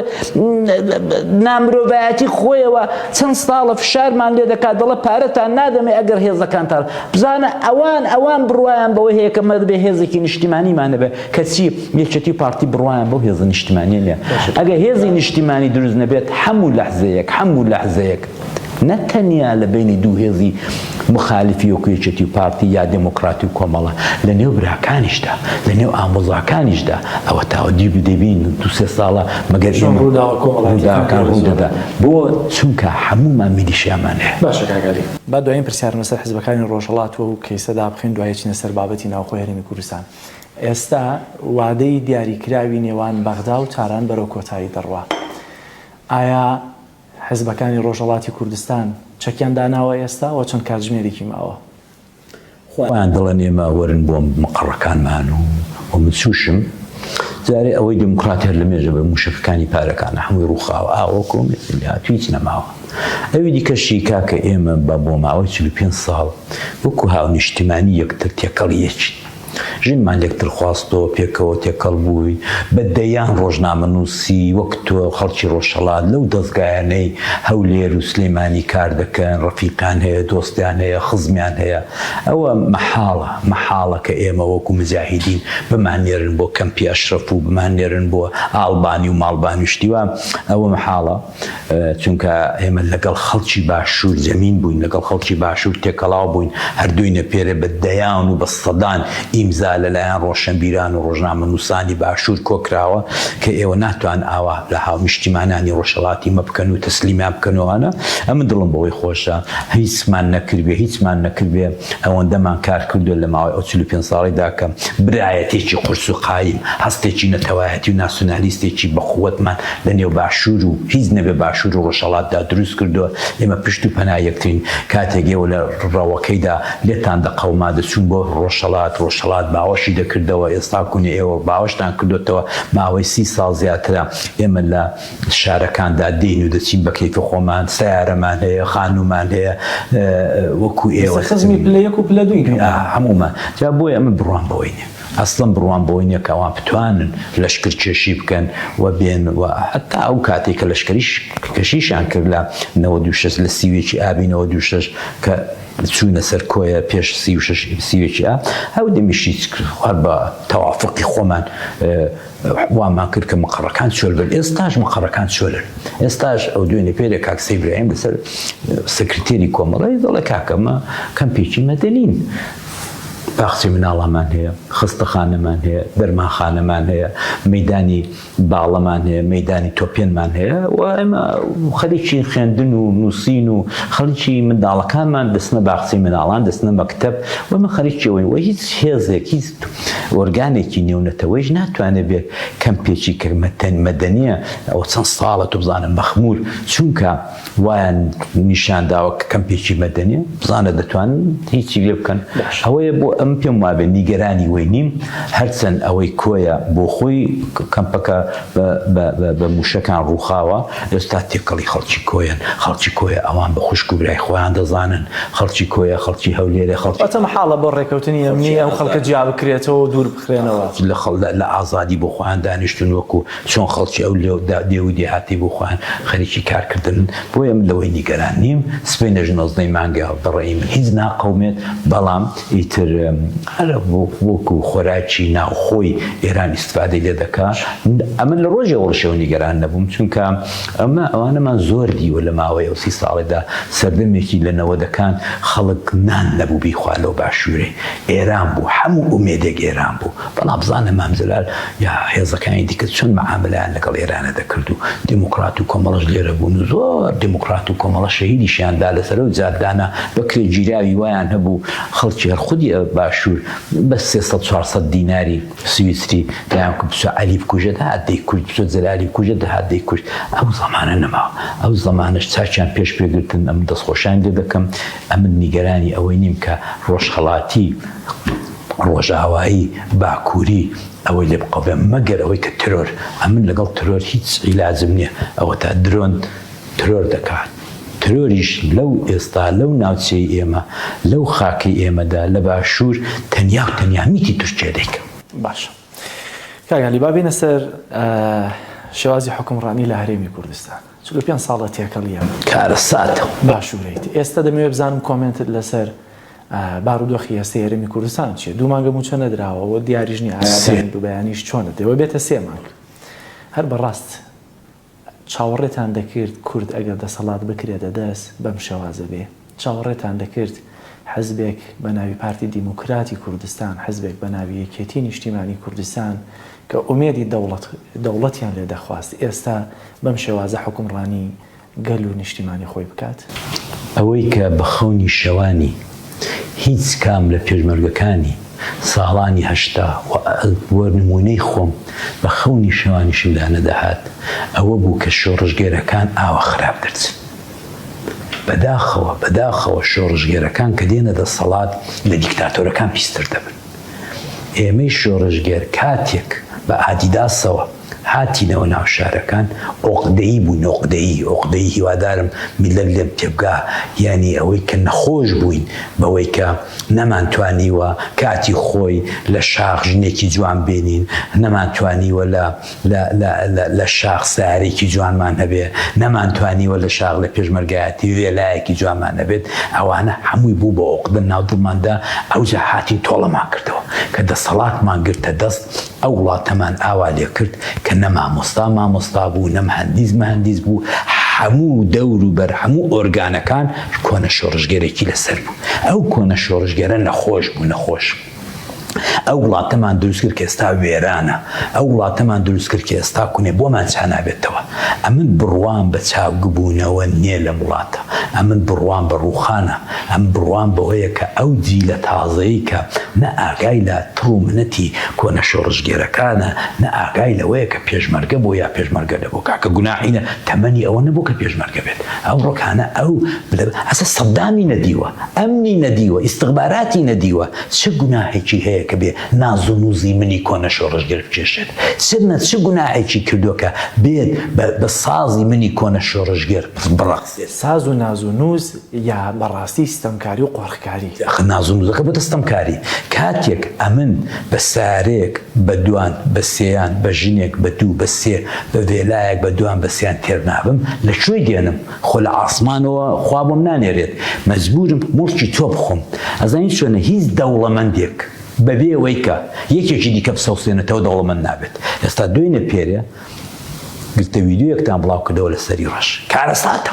نامرۆڤایەتی خۆیەوە چەند ستاڵە فشارمان لێ دەکات دەڵە پارەتان نادەمێ ئەگەر هێزەکانتان بزانە ئەوان ئەوان بڕوایان بەوە هەیە کە مەدبێ هێزێکی نیشتیمانیمان نەبێ کەچی یەکێتی و پارتی بڕوایان بەو هێزە نیشتمانیە نیە ئەگە هێزی نیشتیمانی دروست نەبێت هەموو لەحزەیەک هەموو لەحزەیەک نە تەنیا لە بینی دوو هێزی مخالفی وەکو یەکێتی و پارتی یا دموکراتی و کۆمەڵە لە نێو براکانیشدا لە نێو ئامۆزاکانیشدا ئەوە تاوە دی دەبین دو سێ ساڵە مەگەر ڕووداوەکان ڕوودەدا بۆ چونکە هەموومان میلیشیامان هەیە باشە کاکالی با دوایین پرسیارم لەسەر حزبەکانی ڕۆژهەڵاتوە و کەیسە دابخەین دوای چینە سەر بابەتی ناوخۆی هەرێمی کوردستان. ئێستا وادەی دیاریکراوی نێوان بەغدا و تاران بەرەو کۆتایی دەڕوا. ئایا حزبەکانی ڕۆژهەڵاتی کوردستان چەکیان داناوە ئێستا و چەند کاتژمێرێکی ماوە؟ خۆیان دەڵێن ئێمە وەرن بۆ مقەڕەکانمان و من چووشم. جارێ ئەوەی دێموکڕات هەر لە مێژە بە مووشەکەکانی پارەکانە هەمووی ڕووخاوە ئاوەو کۆمێسن هاتوو هیچ نەماوە. ئەوی دیکەشی کاکە ئێمە بە بۆ ماوەی چل و پێنج ساڵ وەکوو هاونیشتیمانی یەکتر تێکەڵی یەکین. ژنمان لێک ترخواستەوە، پێکەوە تێکەڵ بووین، بە دەیان ڕۆژنامەنووسی وەک تۆ، خەڵکی ڕۆژهەڵات لەو دەزگایانەی هەولێر و سلێمانی کار دەکەن، ڕەفیقیان هەیە، دۆستیان هەیە، خزمیان هەیە. ئەوە مەحاڵە، مەحاڵە کە ئێمە وەکوو مجاهیدین بماننێرن بۆ کەمپی ئەشرەف و بماننێرن بۆ ئاڵبانی و ماڵبانی و شتی وا، ئەوە مەحاڵە. چونکە ئێمە لەگەڵ خەڵکی باشوور زەمین بووین لەگەڵ خەڵکی باشوور تێکەڵاو بووین هەردوینە پێرێ بە دەیان و بە سەدان ئیمزا لەلایەن ڕۆشەنبیران و ڕۆژنامە نووسانی باشوور کۆکراوە کە ئێوە ناتوان ئاوا لە هاونیشتیمانانی ڕۆژهەڵاتی مە بکەن و تەسلیمیان بکەنەوانە ئەمن دڵم بەوەی خۆشە هیچمان نەکردێ هیچمان نەکردێ ئەوەندەمان کار کردو لە ماوەی ئەو چلو پێنج ساڵیدا کە برایەتێکی قورس و قایم هەستێکی نەتەوایەتی و ناسیونالیستێکی بەقوەتمان لە نێو باشوور و هیچ نەبێ باشوور و ڕۆژهەڵاتدا دروست کردووە، ئێمە پشت و پەنا یەکترین، کاتێک ئێوە لە ڕەوەکەیدا لێتان دەقەوما دەچوون بۆ ڕۆژهەڵات، ڕۆژهەڵات باوەشی دەکردەوە، ئێستا کونێ ئێوە باوەشتان کردۆتەوە، ماوەی سی ساڵ زیاترە ئێمە لە شارەکاندا دێین و دەچین بە کەیفی خۆمان، سەیارەمان هەیە، خانوومان هەیە، وەکوو ئێوە. ئێستا خزمی پلە یەک و پلە دووین هەموومان. هەموومان، جا بۆیە ئەمن بڕوام بەوەی نییە. ئەسڵەن بڕوام بەوە نیە کە ئەوان بتوانن لەشکر کێشی بکەن و بێن و هەتا ئەو کاتەی کە لەشکریش کێشیشیان کرد لە نەوەد و شەش لە سی و یەکی ئابی نەوەد و شەش کە چوونە سەر کۆیە پێش سی و شەش سی و یەکی ئاب ئەو دەمیش هیچ هەر بە تەوافقی خۆمان وامان کرد کە مقڕەکان چۆل بن ئێستاش مقڕەکان چۆلن ئێستاش ئەو دوێنێ پێرێ کاک سەیبراهیم لەسەر سکرتێری کۆمەڵەی دەڵێ کاکەمە کەمپێکی مەدەنین باخچەی مناڵانمان هەیە، خەستەخانەمان هەیە، دەرمانخانەمان هەیە، مەیدانی باڵەمان هەیە، مەیدانی تۆپێنمان هەیە و ئێمە خەریکی خوێندن و نووسین و خەریکی منداڵەکانمان دەچنە باخچەی مناڵان، دەچنە مەکتەب و ئێمە خەریکی ئەوەین و هیچ هێزێک، هیچ ئۆرگانێکی نێونەتەوەییش ناتوانێت بێت کەمپێکی کە مەدەنییە، ئەوە چەند ساڵە تۆ بزانە مەخموور چونکە، وایان نیشان داوە کە کەمپێکی مەدەنیە بزانە دەتوانن هیچی لێ بکەن ئەوەیە بۆ ئەم پێم وابێ نیگەرانی وەی نیم هەرچەند ئەوەی کۆیە بۆ خۆی کەمپەکە بە موشەکان ڕووخاوە ئێستا تێکەڵی خەڵکی کۆیەن خەڵکی کۆیە ئەوان بە خوشک و برای خۆیان دەزانن خەڵکی کۆیە خەڵکی هەولێرە خەڵکی ئەتە مەحاڵە بۆ ڕێکەوتنی ئەمنی ئەو خەڵکە جیا بکرێتەوە و دوور بخرێنەوە لە خەڵ لە ئازادی بۆ خۆیان دانیشتون وەکو چۆن خەڵکی ئەو دێ و دێهاتی بۆ خۆیان خەریکی کار کردنن، بۆیە من لەوەی نیگەران نیم، سبەینێش نۆزدە ی مانگە، بەڕەئی من هیچ ناقەومێت، بەڵام ئیتر هەر وەکو خۆراکی ناوخۆی ئێران ئیستفادەی لێ دەکا، ئەمن لە ڕۆژی ئەوڕشەوە نیگەران نەبووم، چونکە ئەمە ئەوانەمان زۆر دیوە لە ماوەی ئەو سی ساڵەدا، سەردەمێکی لە نەوەدەکان خەڵک نان نەبوو بیخوا لەو باشوورەی، ئێران بوو، هەموو ئومێدێک ئێران بوو. بەڵام بزانە مام جەلال یا هێزەکانی دیکە چۆن مەعامەلەیان لەگەڵ ئێرانە دەکرد و دێموکڕات و کۆمەڵەش لێرە بوون و زۆر دێموکڕات و کۆمەڵە شەهیدیشیان دا لەسەر و جاددانە بەکرێ گیراوی وایان هەبوو خەڵکی هەر خودی باشوور بە سێ سەد چوار سەد دیناری سویسری دایان کو بچە عەلی بکوژە دەهات دەیکوشت بچە جەلالی بکوژە دەهات دەیکوشت ئەو زەمانە نەماوە ئەو زەمانەش چاکیان پێش پێ گرتن ئەم دەستخۆشیان لێ دەکەم ئەمن نیگەرانی ئەوەی نیم کە ڕۆژهەڵاتی ڕۆژئاوایی باکوری ئەوەی لێ بقەومێ مەگەر ئەوەی کە ترۆر ئەمن لەگەڵ ترۆر هیچ عیلاجم نیە ئەوەتا درۆن ترۆر دەکات ترۆریش لەو ئێستا لەو ناوچەی ئێمە لەو خاکەی ئێمەدا لە باشور تەنیا و تەنیا میتی تورکیا دەیکا. باشە کاک عەلی با بێینە سەر شێوازی حوکمڕانی لە هەرێمی کوردستان چل و پێنج ساڵە تێکەڵییە کارەساتە باشوورەیت ئێستا دەمەوێت بزانم کۆمێنتت لەسەر بارودۆخی ئێستەی هەرێمی کوردستان چیە؟ دوو مانگە مووچە نەدراوە و دیاریش نیە ئایا دوو بەیانیش چۆنە دەوە بێتە سێ مانگ هەر بەڕاست چاوەڕێتان دەکرد کورد ئەگەر دەسەڵات بکرێتە دەست بەم شێوازە بێ چاوەڕێتان دەکرد حزبێک بە ناوی پارتی دیموکراتی کوردستان حزبێک بە ناوی یەکێتی نیشتیمانی کوردستان کە ئومێدی دەوڵەت دەوڵەتیان لێ دەخواست ئێستا بەم شێوازە حکومڕانی گەل و نیشتیمانی خۆی بکات. ئەوەی کە بە خەونی شەوانی هیچ کام لە پێشمەرگەکانی ساڵانی هەشتا و بۆ نموونەی خۆم بە خەونی شەوانیشمدا نەدەهات ئەوە بوو کە شۆڕشگێرەکان ئاوا خراپ دەرچن. بە داخەوە بە داخەوە شۆڕشگێرەکان کە دێنە دەسەڵات لە دیکتاتۆرەکان پیستر دەبن. ئێمەی شۆڕشگێر کاتێک بە ئادیداسەوە، هاتینەوە ناو شارەکان عوقدەیی بووین عوقدەیی عوقدەیی هیوادارم میللەت لێم تێبگا یانی ئەوەی کە نەخۆش بووین بەوەی کە نەمانتوانیوە کاتی خۆی لە شاخ ژنێکی جوان بینین نەمانتوانیوە لە لە لە لە لە شاخ سەیارەیەکی جوانمان هەبێ نەمانتوانیوە لە شاخ لە پێشمەرگایەتی وێلایەکی جوانمان هەبێت ئەوانە هەمووی بوو بە عوقدە ناو دڵماندا ئەوجا هاتین تۆڵەمان کردەوە کە دەسەڵاتمان گرتە دەست ئەو وڵاتەمان ئاوا لێ کرد کە نە مامۆستا مامۆستا بوو، نە مهەندیس مهەندیس بوو، هەموو دەور و بەر هەموو ئۆرگانەکان کۆنە شۆڕشگێرێکی لە سەر بوو. ئەو کۆنە شۆڕشگێرە نەخۆش بوو، نەخۆش. ئەو وڵاتەمان دروست کرد کە ئێستا وێرانە، ئەو وڵاتەمان دروست کرد کە ئێستا کونێ بۆمان چا نابێتەوە. ئەمن بڕوام بە چاوگبوونەوە نیە لەم وڵاتە، ئەمن بڕوام بە ڕووخانە. هەم بڕوام بەوەیە کە ئەو جیلە تازەیەی کە نە ئاگای لە تڕ و منەتی کۆنە شۆڕشگێرەکانە، نە ئاگای لەوەیە کە پێشمەرگە بۆ یا پێشمەرگە نەبوو، کاکە گوناحی نە تەمەنی ئەوە نەبوو کە پێشمەرگە بێت، ئەمڕۆ کانە ئەو بلە ئەسە سەدامی نەدیوە، ئەمنی نەدیوە، ئیستخباراتی نەدیوە، چ گوناحێکی هەیە کە بێ ناز و نووزی منی کۆنە شۆڕشگێر بکێشێت؟ چ نە چ گوناحێکی کردووە کە بێت بە بە سازی منی کۆنە شۆڕشگێر بڕەخسێت؟ ساز و ناز و نووز یا بەڕاستی ستەمکاری و قۆرخکاری. ئەخە ناز و نوزەکە بۆتە ستەمکاری کاتێک ئەمن بە سارێک بە دوان بە سێیان بە ژنێک بە دوو بە سێ بە ڤێلایەک بە دوان بە سێیان تێر نابم لە کوێ دێنم خۆ لە عاسمانەوە خوا بۆم نانێرێت مەجبورم موڵکی تۆ بخۆم ئەزانی چۆنە هیچ دەوڵەمەندێک بەبێ وەی کە یەکێکی دیکە بسەوسێنێتەوە دەوڵەمەند نابێت ئێستا دوێنێ پێرێ گرتە ویدیۆیەکتان بڵاو کردەوە لە سەری ڕەش کارەساتە.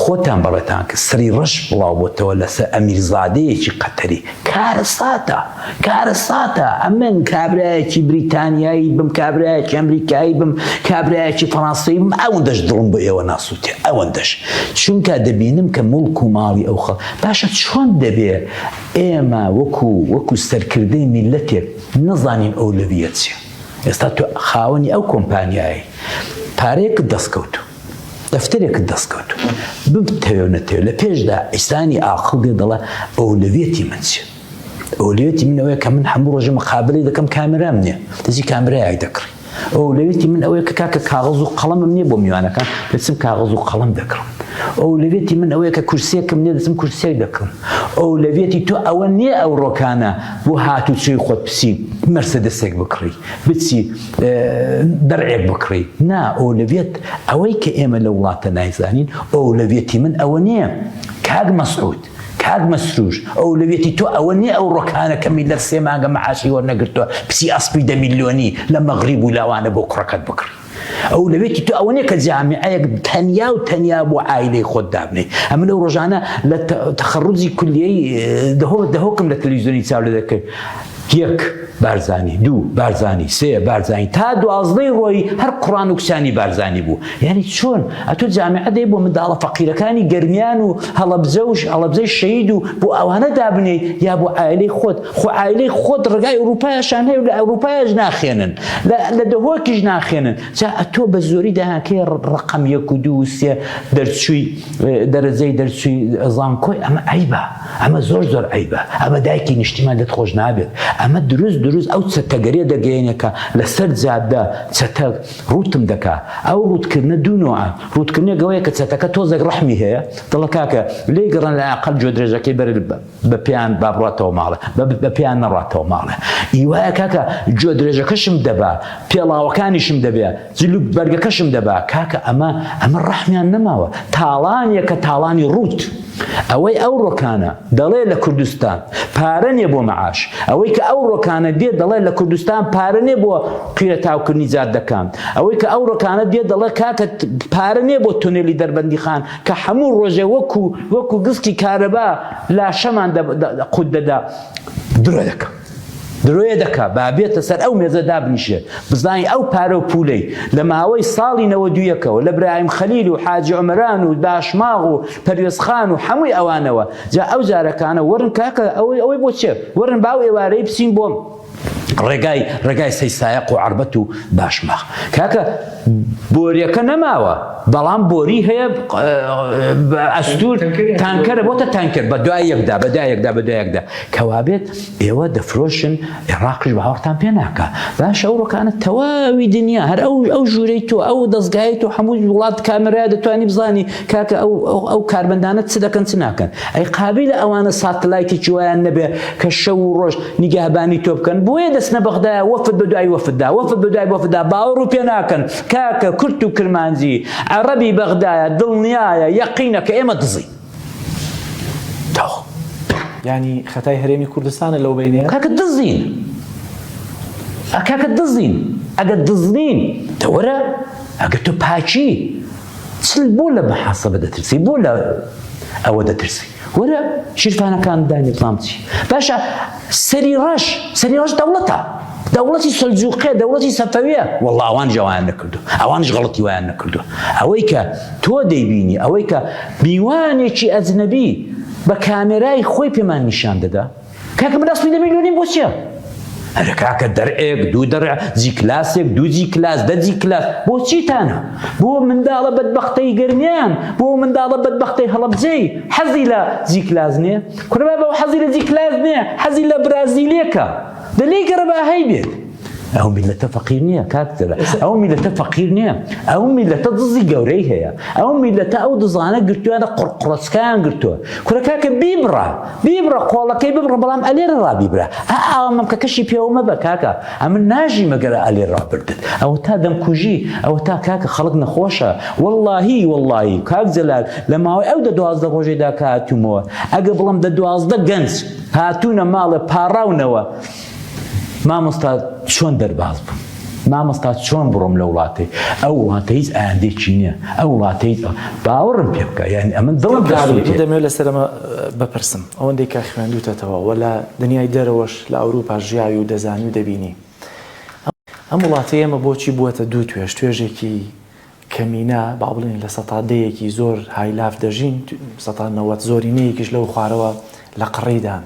خۆتان بەڵێتان کرد سری ڕەش بڵاو بۆتەوە لەسەر ئەمیر زادەیەکی قەتەری کارەساتە کارەساتە ئەمن کابراایەکی بریتانیایی بم کابراایەکی ئەمریکایی بم کابراایەکی فەڕانسەی بم ئەوەندەش دڵم بۆ ئێوە ناسووتێ ئەوەندەش چونکە دەبینم کە مڵک و ماڵی ئەو خەڵ باشە چۆن دەبێ ئێمە وەکو وەکو سەرکردەی میلەتێک نەزانین ئەو لەویە چیە ئێستا تۆ خاوەنی ئەو کۆمپانیایی پارەیەکت دەستکەوتوو دەفتەرێکت دەست کەوت ببتەوێ نەتەوێ لە پێشدا ئیسانی ئاقڵ دێ دەڵێ ئەولەویەتی من چێ ئەولەویەتی منەوەیە کە من هەموو ڕۆژە مقابلی دەکەم کامرام نییە دەزی کامرایەک دەکڕی ئەولەویەتی من ئەوەیە کە کاکە کاغز و قەڵەمم نییە بۆ میوانەکان دەچم کاغز و قەڵم دەکڕم ئەولەویەتی من ئەوەیە کە کورسێکم نیە دەچم کورسێک دەکڕم ئەولەویەتی تۆ ئەوە نییە ئەو ڕۆکانە بۆ هاتوچۆی خۆت بچی مەرسەدەسێک بکڕی بچی دەرعێک بکڕی نا ئۆلەوێت ئەوەی کە ئێمە لە وڵاتە نایزانین ئۆلەوێتی من ئەوە نییە کاک مەسعود کاک مەسروش ئەو لەوێتی تۆ ئەوە نیە ئەو ڕۆکانە کە میلەر سێ مانگە مەعاشی وەرنەگرتووە پسی ئەسپی دە میلیۆنی لە مەغریب و لاوانە بۆ کوڕەکەت بکڕی ئەو لەوێتی تۆ ئەوە نیە کە جامیعەیەک تەنیا و تەنیا بۆ ئایلەی خۆت دابنێت ئەمە لەو ڕۆژانە لە تەخەڕوزی کولیەی دەهۆ دەهۆکم لە تەلویزیۆنی چاو لە دەکرد یەک، بارزانی، دوو، بارزانی، سێ، بارزانی، تا دوازدەی ڕۆیی هەر قڕان و کچانی بارزانی بوو، یانی چۆن؟ ئەتۆ جامعە دەی بۆ منداڵە فەقیرەکانی گەرمیان و هەڵەبجە و هەڵەبجەی شەهید و بۆ ئەوانە دابنێی یا بۆ عایلەی خۆت؟ خۆ عایلەی خۆت ڕێگای ئوڕووپایشان هەیە و لە ئەورووپایش ناخێنن، لە دهۆکیش ناخێنن، جا ئەتۆ بە زۆری دەیان کەی ڕەقەم یەک و دوو و سێ دەرچووی دەرەجەی دەرچووی زانکۆی، ئەمە عەیبە. ئەمە زۆر زۆر عەیبە ئەمە دایکی نیشتیمان لێت خۆش نابێت ئەمە دروست دروست ئەو چەتەگەرێ دەگەێنێ کە لەسەر جادە چەتە ڕوتم دەکا ئەو ڕوتکردە دوو نوعە ڕوتکردنە گەوەیە کە چەتەکە تۆزێک ڕەحمی هەیە دڵە کاکە لێ گەڕن لە ئەقل جۆ درێژەکەی بەر بە پێیان با بڕاتەوە ماڵێ بە پێیان نەڕاتەوە ماڵێ ئیوایە کاکە جۆ درێژەکەشم دەبا پێڵاوەکانیشم دەبێ جل و بەرگەکەشم دەبا کاکە ئەمە ئەمە ڕەحمیان نەماوە تاڵانیەکە تاڵانی ڕووت ئەوەی ئەو ڕۆکانە دەڵێ لە کوردستان پارە نیە بۆ مەعاش ئەوەی کە ئەو ڕۆکانە دێ دەڵێ لە کوردستان پارە نیە بۆ قیرە تاوکردنی جاد دەکەم ئەوەی کە ئەو ڕۆکانە دێ دەڵێ کاکە پارە نیە بۆ تونێلی دەربەندی خان کە هەموو ڕۆژێ وەکو وەکو گستی کارەبا لاشەمان قوت دەدا درۆ دەکەم درۆیە دەکا با بێتە سەر ئەو مێزە دابنیشێ بزانین ئەو پارە و پولەی لە ماوەی ساڵی نەوەد و یەکەوە لە برایم خەلیل و حاجی عمران و داشماغ و پەروێز خان و حەمووی ئەوانەوە جا ئەو جارەکانە وەرن کاکە ئەوەی ئەوەی بۆ چێ وەرن باو ئێوارەی بچین بۆم ڕێگای ڕێگای سەی سایق و عربەت و باشماخ کاکە بۆریەکە نەماوە بەڵام بۆری هەیە ئەستور تانکەرە بۆتە تانکەر بە دوای یەکدا بە دایەکدا بە دایەکدا کەوابێت ئێوە دەفرۆشن عێڕاقش بە هاوڕتان پێ ناکە باش ئەو ڕۆکانە تەواوی دنیا هەر ئەو ئەو ژوورەی تۆ ئەو دەستگای تۆ هەموو وڵات کامێرا دەتوانانی بزانی کاکە ئەو ئەو کاربندانە چ دەکەن چ ناکەن ئەی قابل لە ئەوانە ساتلایتی جویان نەبێ کە شەو و ڕۆژ نیگەهبانی تۆ بکەن بۆیە دەستنە بەغدا وەفت بە دوای وەفتدا وەفت بە دوای وەفتدا باوەڕ و پێ ناکەن کاکە کورت و کرمانجی عەڕەبی بەغدایە دڵنیایە یەقینە کە ئێمە دزی یانی خەتای هەرێمی کوردستانە لەو بینێ کاکە دزین کاکە دزین ئەگە دزنین دەوەرە ئەگە تۆ پاچی چل بۆ لە بەحاسەبە دەترسی بۆ لە ئەوە دەترسی وەرە شیرفانەکان دانی بڵام چی باشە سەری ڕەش سەری ڕەش دەوڵەتە دەوڵەتی سەلجوقێ دەوڵەتی سەفەویە وەڵڵا ئەوان جەوایان نەکردو ئەوانش غەڵەتی وایان نەکردو ئەوەی کە تۆ دەیبینی ئەوەی کە میوانێکی ئەجنەبی بە کامێرای خۆی پێمان نیشان دەدا کاکە من ئەسڵی دەبین لۆنیم بۆ چیە هەرە کاکە دەرئێک دوو دەڕ جی کلاسێک دوو جی کلاس دە جی کلاس بۆ چیتانە بۆ منداڵە بەدبەختەی گەرمیان بۆ منداڵە بەدبەختەی هەڵەبجەی حەزی لە جی کلاس نیە کورە بابە و حەزی لە جیکلاس نییە حەزی لە برازیلێکە دە لێی گەڕە بە ئاهەی بێت ئەو میلەتە فەقیر نییە کاکتەرە ئەو میلەتە فەقیر نییە ئەو میلەتە دزی گەورەی هەیە ئەو میلەتە ئەو دزانە گرتووانە قڕقڕۆچکایان گرتووە کورە کاکە بیبڕە بیبڕە قۆڵەکەی ببڕە بەڵام ئەلێرە ڕابیبرە ئا ئاوە مەمکەکەشی پێوە مەبە کاکە ئەمن ناژی مەگەر ئەلێ ڕابردت ئەوەتا دەمکوژی ئەوەتا کاکە خەڵک نەخۆشە وەڵاهی وەڵاهی کاک جەلال لە ماوەی ئەو دە دوازدە ڕۆژێدا کە هاتوومەوە ئەگە بڵم دە دوازدە گەنج هاتوونە ماڵێ پاڕاونەوە مامۆستا چۆن دەرباز بووم مامۆستا چۆن بڕۆم لە وڵاتی ئەو وڵاتە هیچ ئاندێکی نییە ئەو وڵاتە هیچ باوەڕم پێ بکە یعنی ئەمن دڵم دەمێ لەسەرمە بپرسم ئەوەندێک کە خوێندوتەتەوە وە لە دنیای دەرەوەش لە ئەوروپا ژیاوی و دەزانی و دەبینی ئەم وڵاتی ئێمە بۆچی بووەتە دوو توێژ توێژێکی کەمینە با بڵێن لە سەتا دەیەکی زۆر هایلاف دەژین سەتا نەوەت زۆرینەیەکیش لەو خوارەوە لە قڕیدان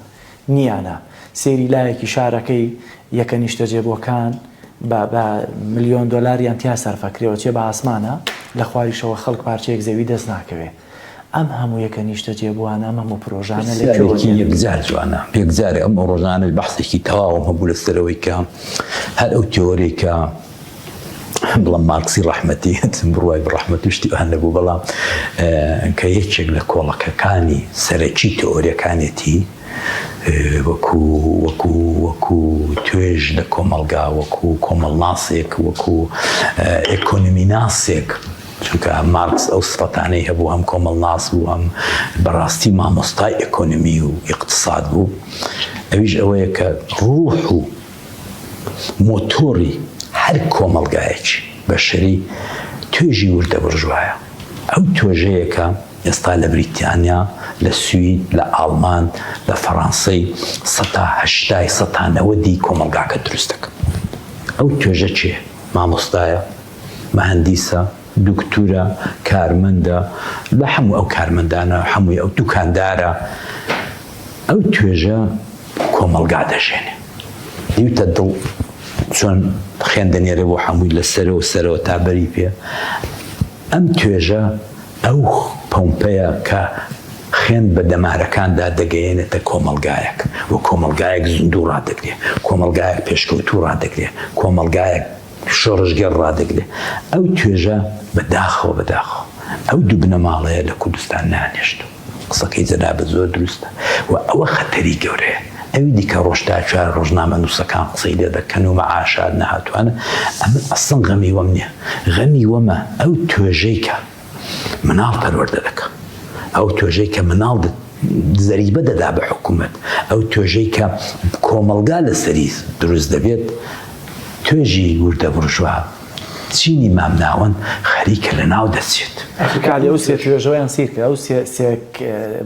نیانە سێری لایەکی شارەکەی یەکە نیشتەجێبووەکان بە ملیۆن دۆلاریان تیا سەرفەکرێەوە چێ بە ئاسمانە لە خواریشەوە خەڵک پارچەیەک زەوی دەست ناکەوێ ئەم هەموو یەکە نیشتەجێبووانە، ئەم هەموو پرۆژانە لە کوێوە دێن؟ پرسیارێکی یەکجار جوانە. یەکجارە ئەم ڕۆژانەش بەحسێکی تەواوم هەبوو لەسەر ئەوەی کە هەر ئەو تیۆرەی کە بڵێم مارکسی ڕەحمەتی بڕوای بە ڕەحمەت و شتی ئەوان نەبوو، بەڵام کە یەکێک لە کۆڵەکەکانی سەرەکی تیۆریەکانێتی وەکو وەکو وەکو توێژ لە کۆمەڵگا وەکو کۆمەڵناسێک وەکو ئێکۆنۆمیناسێک چونکە مارکس ئەو سفەتانەی هەبوو هەم کۆمەڵناس بوو هەم بەڕاستی مامۆستای ئێکۆنمی و ئیقتساد بوو ئەویش ئەوەیە کە ڕوح و مۆتۆری هەر کۆمەڵگایەکی بەشەری توێژی وردە بورژوایە ئەو توێژەیە کە ئێستا لە بریتانیا لە سوید لە ئاڵمان لە فەڕانسەی سەتا هەشتای سەتا نەوەدی کۆمەڵگاکە دروست دەکەن ئەو توێژە چێ مامۆستایە مەهەندیسە، دوکتورە، کارمەندە، لە حەموو ئەو کارمەندانە، حەمووی ئەو دوکاندارە، ئەو توێژە کۆمەڵگا دەژێنێ. دیوتە دڵ چۆن خوێن دەنێرێ بۆ حەمووی لە سەرەوە سەرەوە تا بەری پێ. ئەم توێژە ئەو پۆمپەیە کە خوێن بە دەمارەکاندا دەگەیەنێتە کۆمەڵگایەک و کۆمەڵگایەک زیندوو ڕادەگرێ، کۆمەڵگایەک پێشکەوتوو ڕادەگرێ، کۆمەڵگایەک. شۆڕشگێڕ ڕادەگرێ ئەو توێژە بە داخەوە بە داخەوە ئەو دوو بنەماڵەیە لە کوردستان نانێشت و قسەکەی جەنابت زۆر دروستە و ئەوە خەتەری گەورەیە ئەوی دیکە ڕۆژ تا چوار ڕۆژنامە نووسەکان قسەی لێ دەکەن و مەعاشات نەهاتووانە ئەمن ئەسڵەن غەمی وەم نییە غەمی وەمە ئەو توێژەی کە مناڵ پەروەردە دەکا ئەو توێژەی کە مناڵ زەریبە دەدا بە حکوومەت ئەو توێژەی کە کۆمەلگا لەسەری دروست دەبێت توێژی وردە بڕژوا چینی مامناوەند خەریکە لە ناو دەچێت ئەفکاری ئەو سێ توێژەوەیان سیرکە ئەو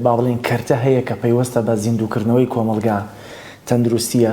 با بڵین کەرتە هەیە کە پەیوەستە بە زیندووکردنەوەی کۆمەلگا تەندروستیە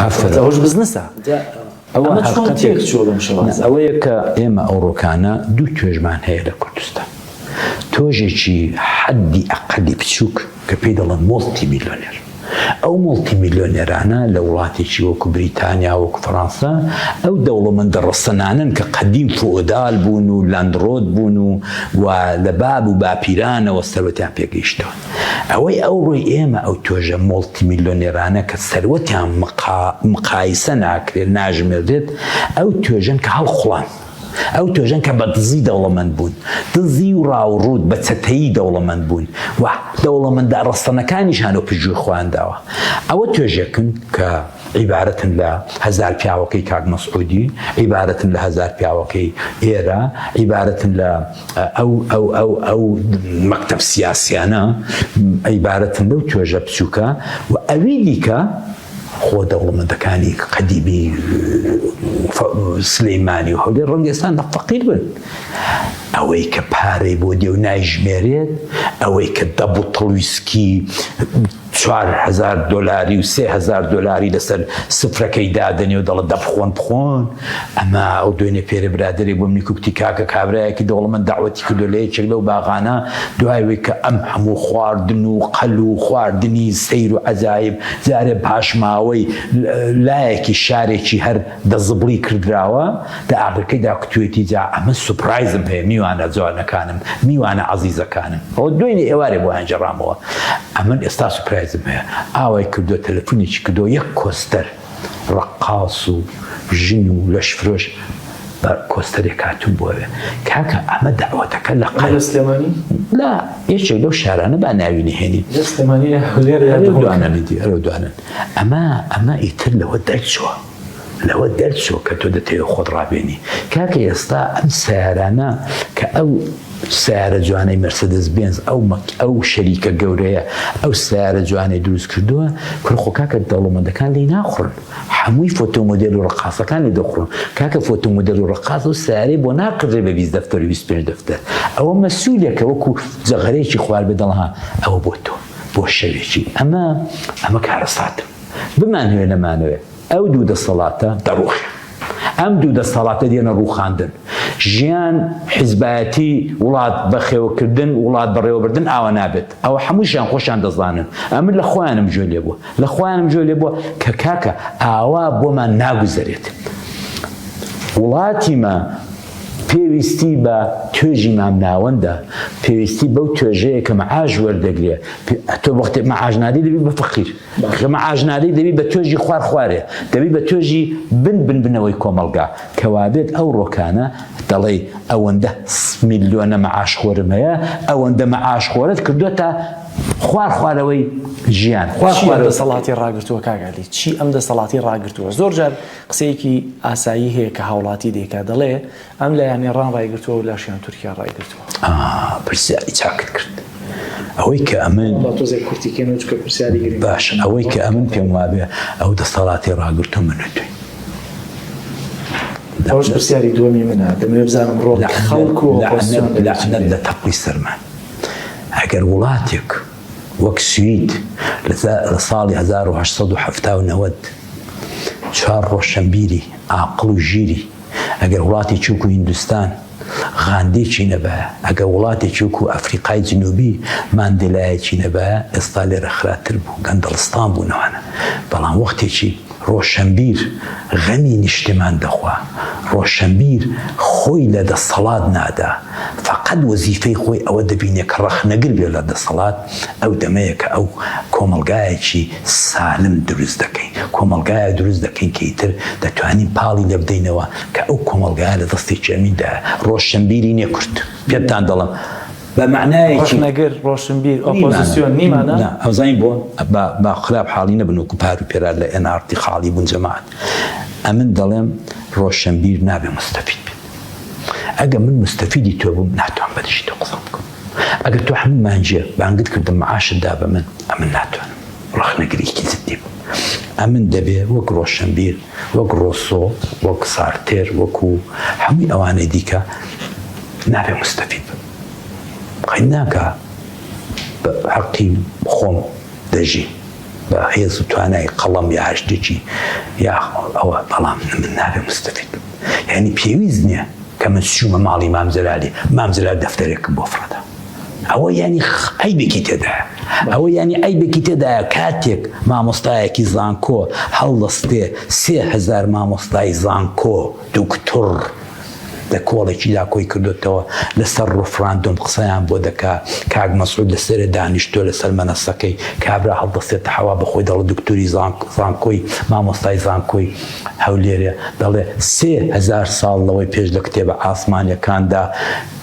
ئافرەت ئەوەش بزنسە ئەوە ئەوەیە کە ئێمە ئەوڕۆکانە دوو توێژمان هەیە لە کوردستان تۆژێکی حەدی ئەقلی بچووک کە پێی دەڵێن مۆڵتی میلیۆنێر ئەو مڵتی میلیۆنێرانە لە وڵاتێکی وەکو بریتانیا وەکو فەڕەنسا ئەو دەوڵەمەندە ڕسەنانن کە قەدیم فۆدال بوون و لاندڕۆت بوون و و لە باب و باپیرانەوە سەرەتیان پێگەیشتەوە ئەوەی ئەوڕۆی ئێمە ئەو توێژە مۆڵتی میلۆنێرانە کە سەروەتیان مقایسە ناکرێت ناژمێردرێت ئەو توێژەن کە هەڵقوڵان. ئەو توێژەن کە بە دزی دەوڵەمەند بوون دزی و ڕاوڕووت بە چەتەیی دەوڵەمەند بوون و دەوڵەمەندە ڕەسەنەکانیشان و پژووی خۆیان داوە ئەوە توێژێکن کە عیبارەتن لە هزار پیاوەکەی کاک مەسعودی عیبارەتن لە هزار پیاوەکەی ئێرە عیبارەتن لە ئەو ئەو ئەو ئەو مەکتب سیاسیانە عیبارەتن لەو توێژە بچووکە و ئەوی دیکە خۆ دەوڵەمەندەکانی قەدیبی سلەیمانی و هەولێ ڕەنگێستان لە فەقیر بن ئەوەی کە پارەی بۆ دێ و نایژمێرێت ئەوەی کە دەبوتڵویسکی چوار هەزار دۆلاری و سێ هەزار دۆلاری لەسەر سفرەکەی دادەنێ و دەڵە دەبخۆن بخۆن ئەما ئەو دوێنێ پێرە برادێک بۆ منی کوکتی کاکە کابراایەکی دەوڵەمەند داوەتی کردو لە یەکێک لەو باغانە دوایەوەی کە ئەم هەموو خواردن و قەل و خواردنی سەیر و عەجایب جارێ پاشماوەی لایەکی شارێکی هەر دە زبڵی کردراوە دە ئاگرکەی دا کوتوێتی جا ئەمن سوپرایزم هەیە میوانە جوانەکانم میوانە عەزیزەکانم ئەوە دوێنێ ئێوارێ بۆیان جێڕامەوە ئەمن ئێستا سوپرایزم هەیە ئاوای کردوە تەلەفونێکی کردوە یەک کۆستەر ڕەقاس و ژن و لەشفرۆش بە کۆستەرێک هاتوون بۆێ کاکە ئەمە داوەتەکە لە قەل سلێمانی لا یەکێک لەو شارانە با ناوی نهێنی سلێمانی هەولێر دوانەنی دوانن ئەمە ئەمە ئیتر لەوە دەرچووە لەوە دەرچووە کە تۆ دەتەوێت خۆت ڕابێنی کاکە ئێستا ئەم سیارانە کە ئەو سیارە جوانەی مەرسدس بێنز ئەو مەک ئەو شەریکە گەورەیە ئەو سیارە جوانەی دروست کردووە کوڕخۆ کاکە دەوڵەمەندەکان لی ناخڕن هەمووی فۆتۆمۆدل و ڕقاسەکان لێ دەخڕن کاکە فۆتۆمۆدل و ڕقاز و سیارەی بۆ ناکڕێ بە بیست دەفتەر و بیست پێنج دەفتەر ئەوە مەسوولێکە وەکو جەغەرێکی خوار بە دەڵها ئەوە بۆ تۆ بۆ شەوێکی ئەمە ئەمە کارەساتە بمانەوێ نەمانەوێ ئەو دوو دەسەڵاتە دەڕوخێ ئەم دوو دەسەڵاتە دێنە ڕوخاندن ژیان حیزبایەتی وڵات بەخێوکردن وڵات بەڕێوەبردن ئاوا نابێت ئەوە هەمووشیان خۆشیان دەزانن ئەمن لە خۆیانم جوێ لێ بووە لە خۆیانم جوێ لێ بووە کە کاکە ئاوا بۆمان ناگوزەرێت وڵاتیمە پێویستی بە توێژی مامناوەندە، پێویستی بەو توێژەیە کە مەعاش وەردەگرێ، تۆ وەختێ مەعاش نادەی دەبی بە فەقیر، کە مەعاش نادەی دەبی بە توێژی خوار خوارێ، دەبی بە توێژی بن بن بنەوەی کۆمەڵگا، کە وابێت ئەو ڕۆکانە دەڵێی ئەوەندە میلیۆنە مەعاشخۆرم هەیە، ئەوەندە مەعاشخۆرت کردۆتە خوار خوارەوەی ژیان، خوار خوارەوەی فەقیر. چییە دەسەڵاتی ڕاگرتووە کاک عەلی؟ چی ئەم دەسەڵاتی ڕاگرتووە؟ زۆر جار قسەیەکی ئاسایی هەیە کە هاوڵاتی دەیکا دەڵێ ئەم لایان ئێڕان ڕایگرتووە و لاشیان تورکیا ڕایگرتووە. ئا پرسیاری چاکت کرد. ئەوەی کە ئەمن. با تۆزێک کورتی کەینەوە چونکە پرسیاری گرنگە. باشە ئەوەی کە ئەمن پێم وابێ ئەو دەستەڵاتی ڕاگرتوو من و تووین. ئەوەش پرسیاری دووەمی منە دەمەوێ بزانم ڕۆڵی خەڵک و ئۆپۆزسیۆن. لەعنەت لە تەقوی سەرمان ئەگەر وڵاتێک. وەک سوید لە ساڵی هەزار و هەشت سەد و حەفتا و نەوەد چوار ڕۆشەنبیری ئاقڵ و ژیری ئەگەر وڵاتی چوک و هیندستان غاندیکی نەبایە ئەگەر وڵاتی چوک و ئەفریقای جنوبی ماندیلایەکی نەبایە ئێستا لێرە خراتر بوو گەندەڵستان بوو نەوانە بەڵام وەختێکی ڕۆشەنبیر غەمی نیشتمان دەخوا، ڕۆشەنبیر خۆی لە دەسەڵات نادا، فەقەت وەزیفەی خۆی ئەوە دەبینێ کە ڕەخنەگر بێ لە دەسەڵات، ئەو دەمەیە کە ئەو کۆمەڵگایەکی سالم دروست دەکەین، کۆمەڵگایەک دروست دەکەین کە ئیتر دەتوانین پاڵی لێ بدەینەوە کە ئەو کۆمەڵگایە لە دەستێکی ئەمین دایە، ڕۆشەنبیری نێ کورد. پێتان دەڵێم. بە مەعنایەکی. ڕەخنەگر، ڕۆشنبیر، ئۆپۆزسیۆن، نی مانا؟ نا، ئەزانین بۆ؟ با با خراپ حاڵی نەبن وەکو پار و پێرار لە ئێن ئاڕتی خاڵی بوون جەماعەت. ئەمن دەڵێم ڕۆشنبیر نابێ موستەفید بێت. ئەگەر من موستەفیدی تۆ بووم ناتوانم بە دژی تۆ قسە بکەم. ئەگەر تۆ حەمە مانجیە بانگت کردم معاشت دا بە من، ئەمن ناتوانم. ڕەخنەگرێکی جدی بوو. ئەمن دەبێ وەک ڕۆشنبیر. وەک ڕۆسۆ، وەک سارتێر، وەکو هەمووی ئەوانەی دیکە نابێ موستەفید بم. بەخی ناکا بە حەقی خۆم دەژی بە هێز و توانای قەڵەم یا هەشتێکی یا ئەوە بەڵام من نابێ موستەفید بم. یعنی پێویست نییە کە من چوومە ماڵی مام جەلالی، مام جەلال دەفتەرێکم بۆ فڕێدا. ئەوە یانی عیبێکی تێدایە ئەوە یانی عیبێکی تێدایە کاتێک مامۆستایەکی زانکۆ هەڵدەستێ سێ هزار مامۆستای زانکۆ دوکتور لە کۆڵێکیدا کۆی کردوتەوە لەسەر ڕفراندۆم قسەیان بۆ دەکا کاک مەسعود لەسەرێ دانیشتۆ لەسەر مەنەسەکەی کابرا هەڵدەستێتە حەوا بەخۆی دەڵە دکتۆری زانکۆی مامۆستای زانکۆی هەولێرێ دەڵێ سێ هزار ساڵ لەوەی پێش لە کتێبە ئاسمانیەکاندا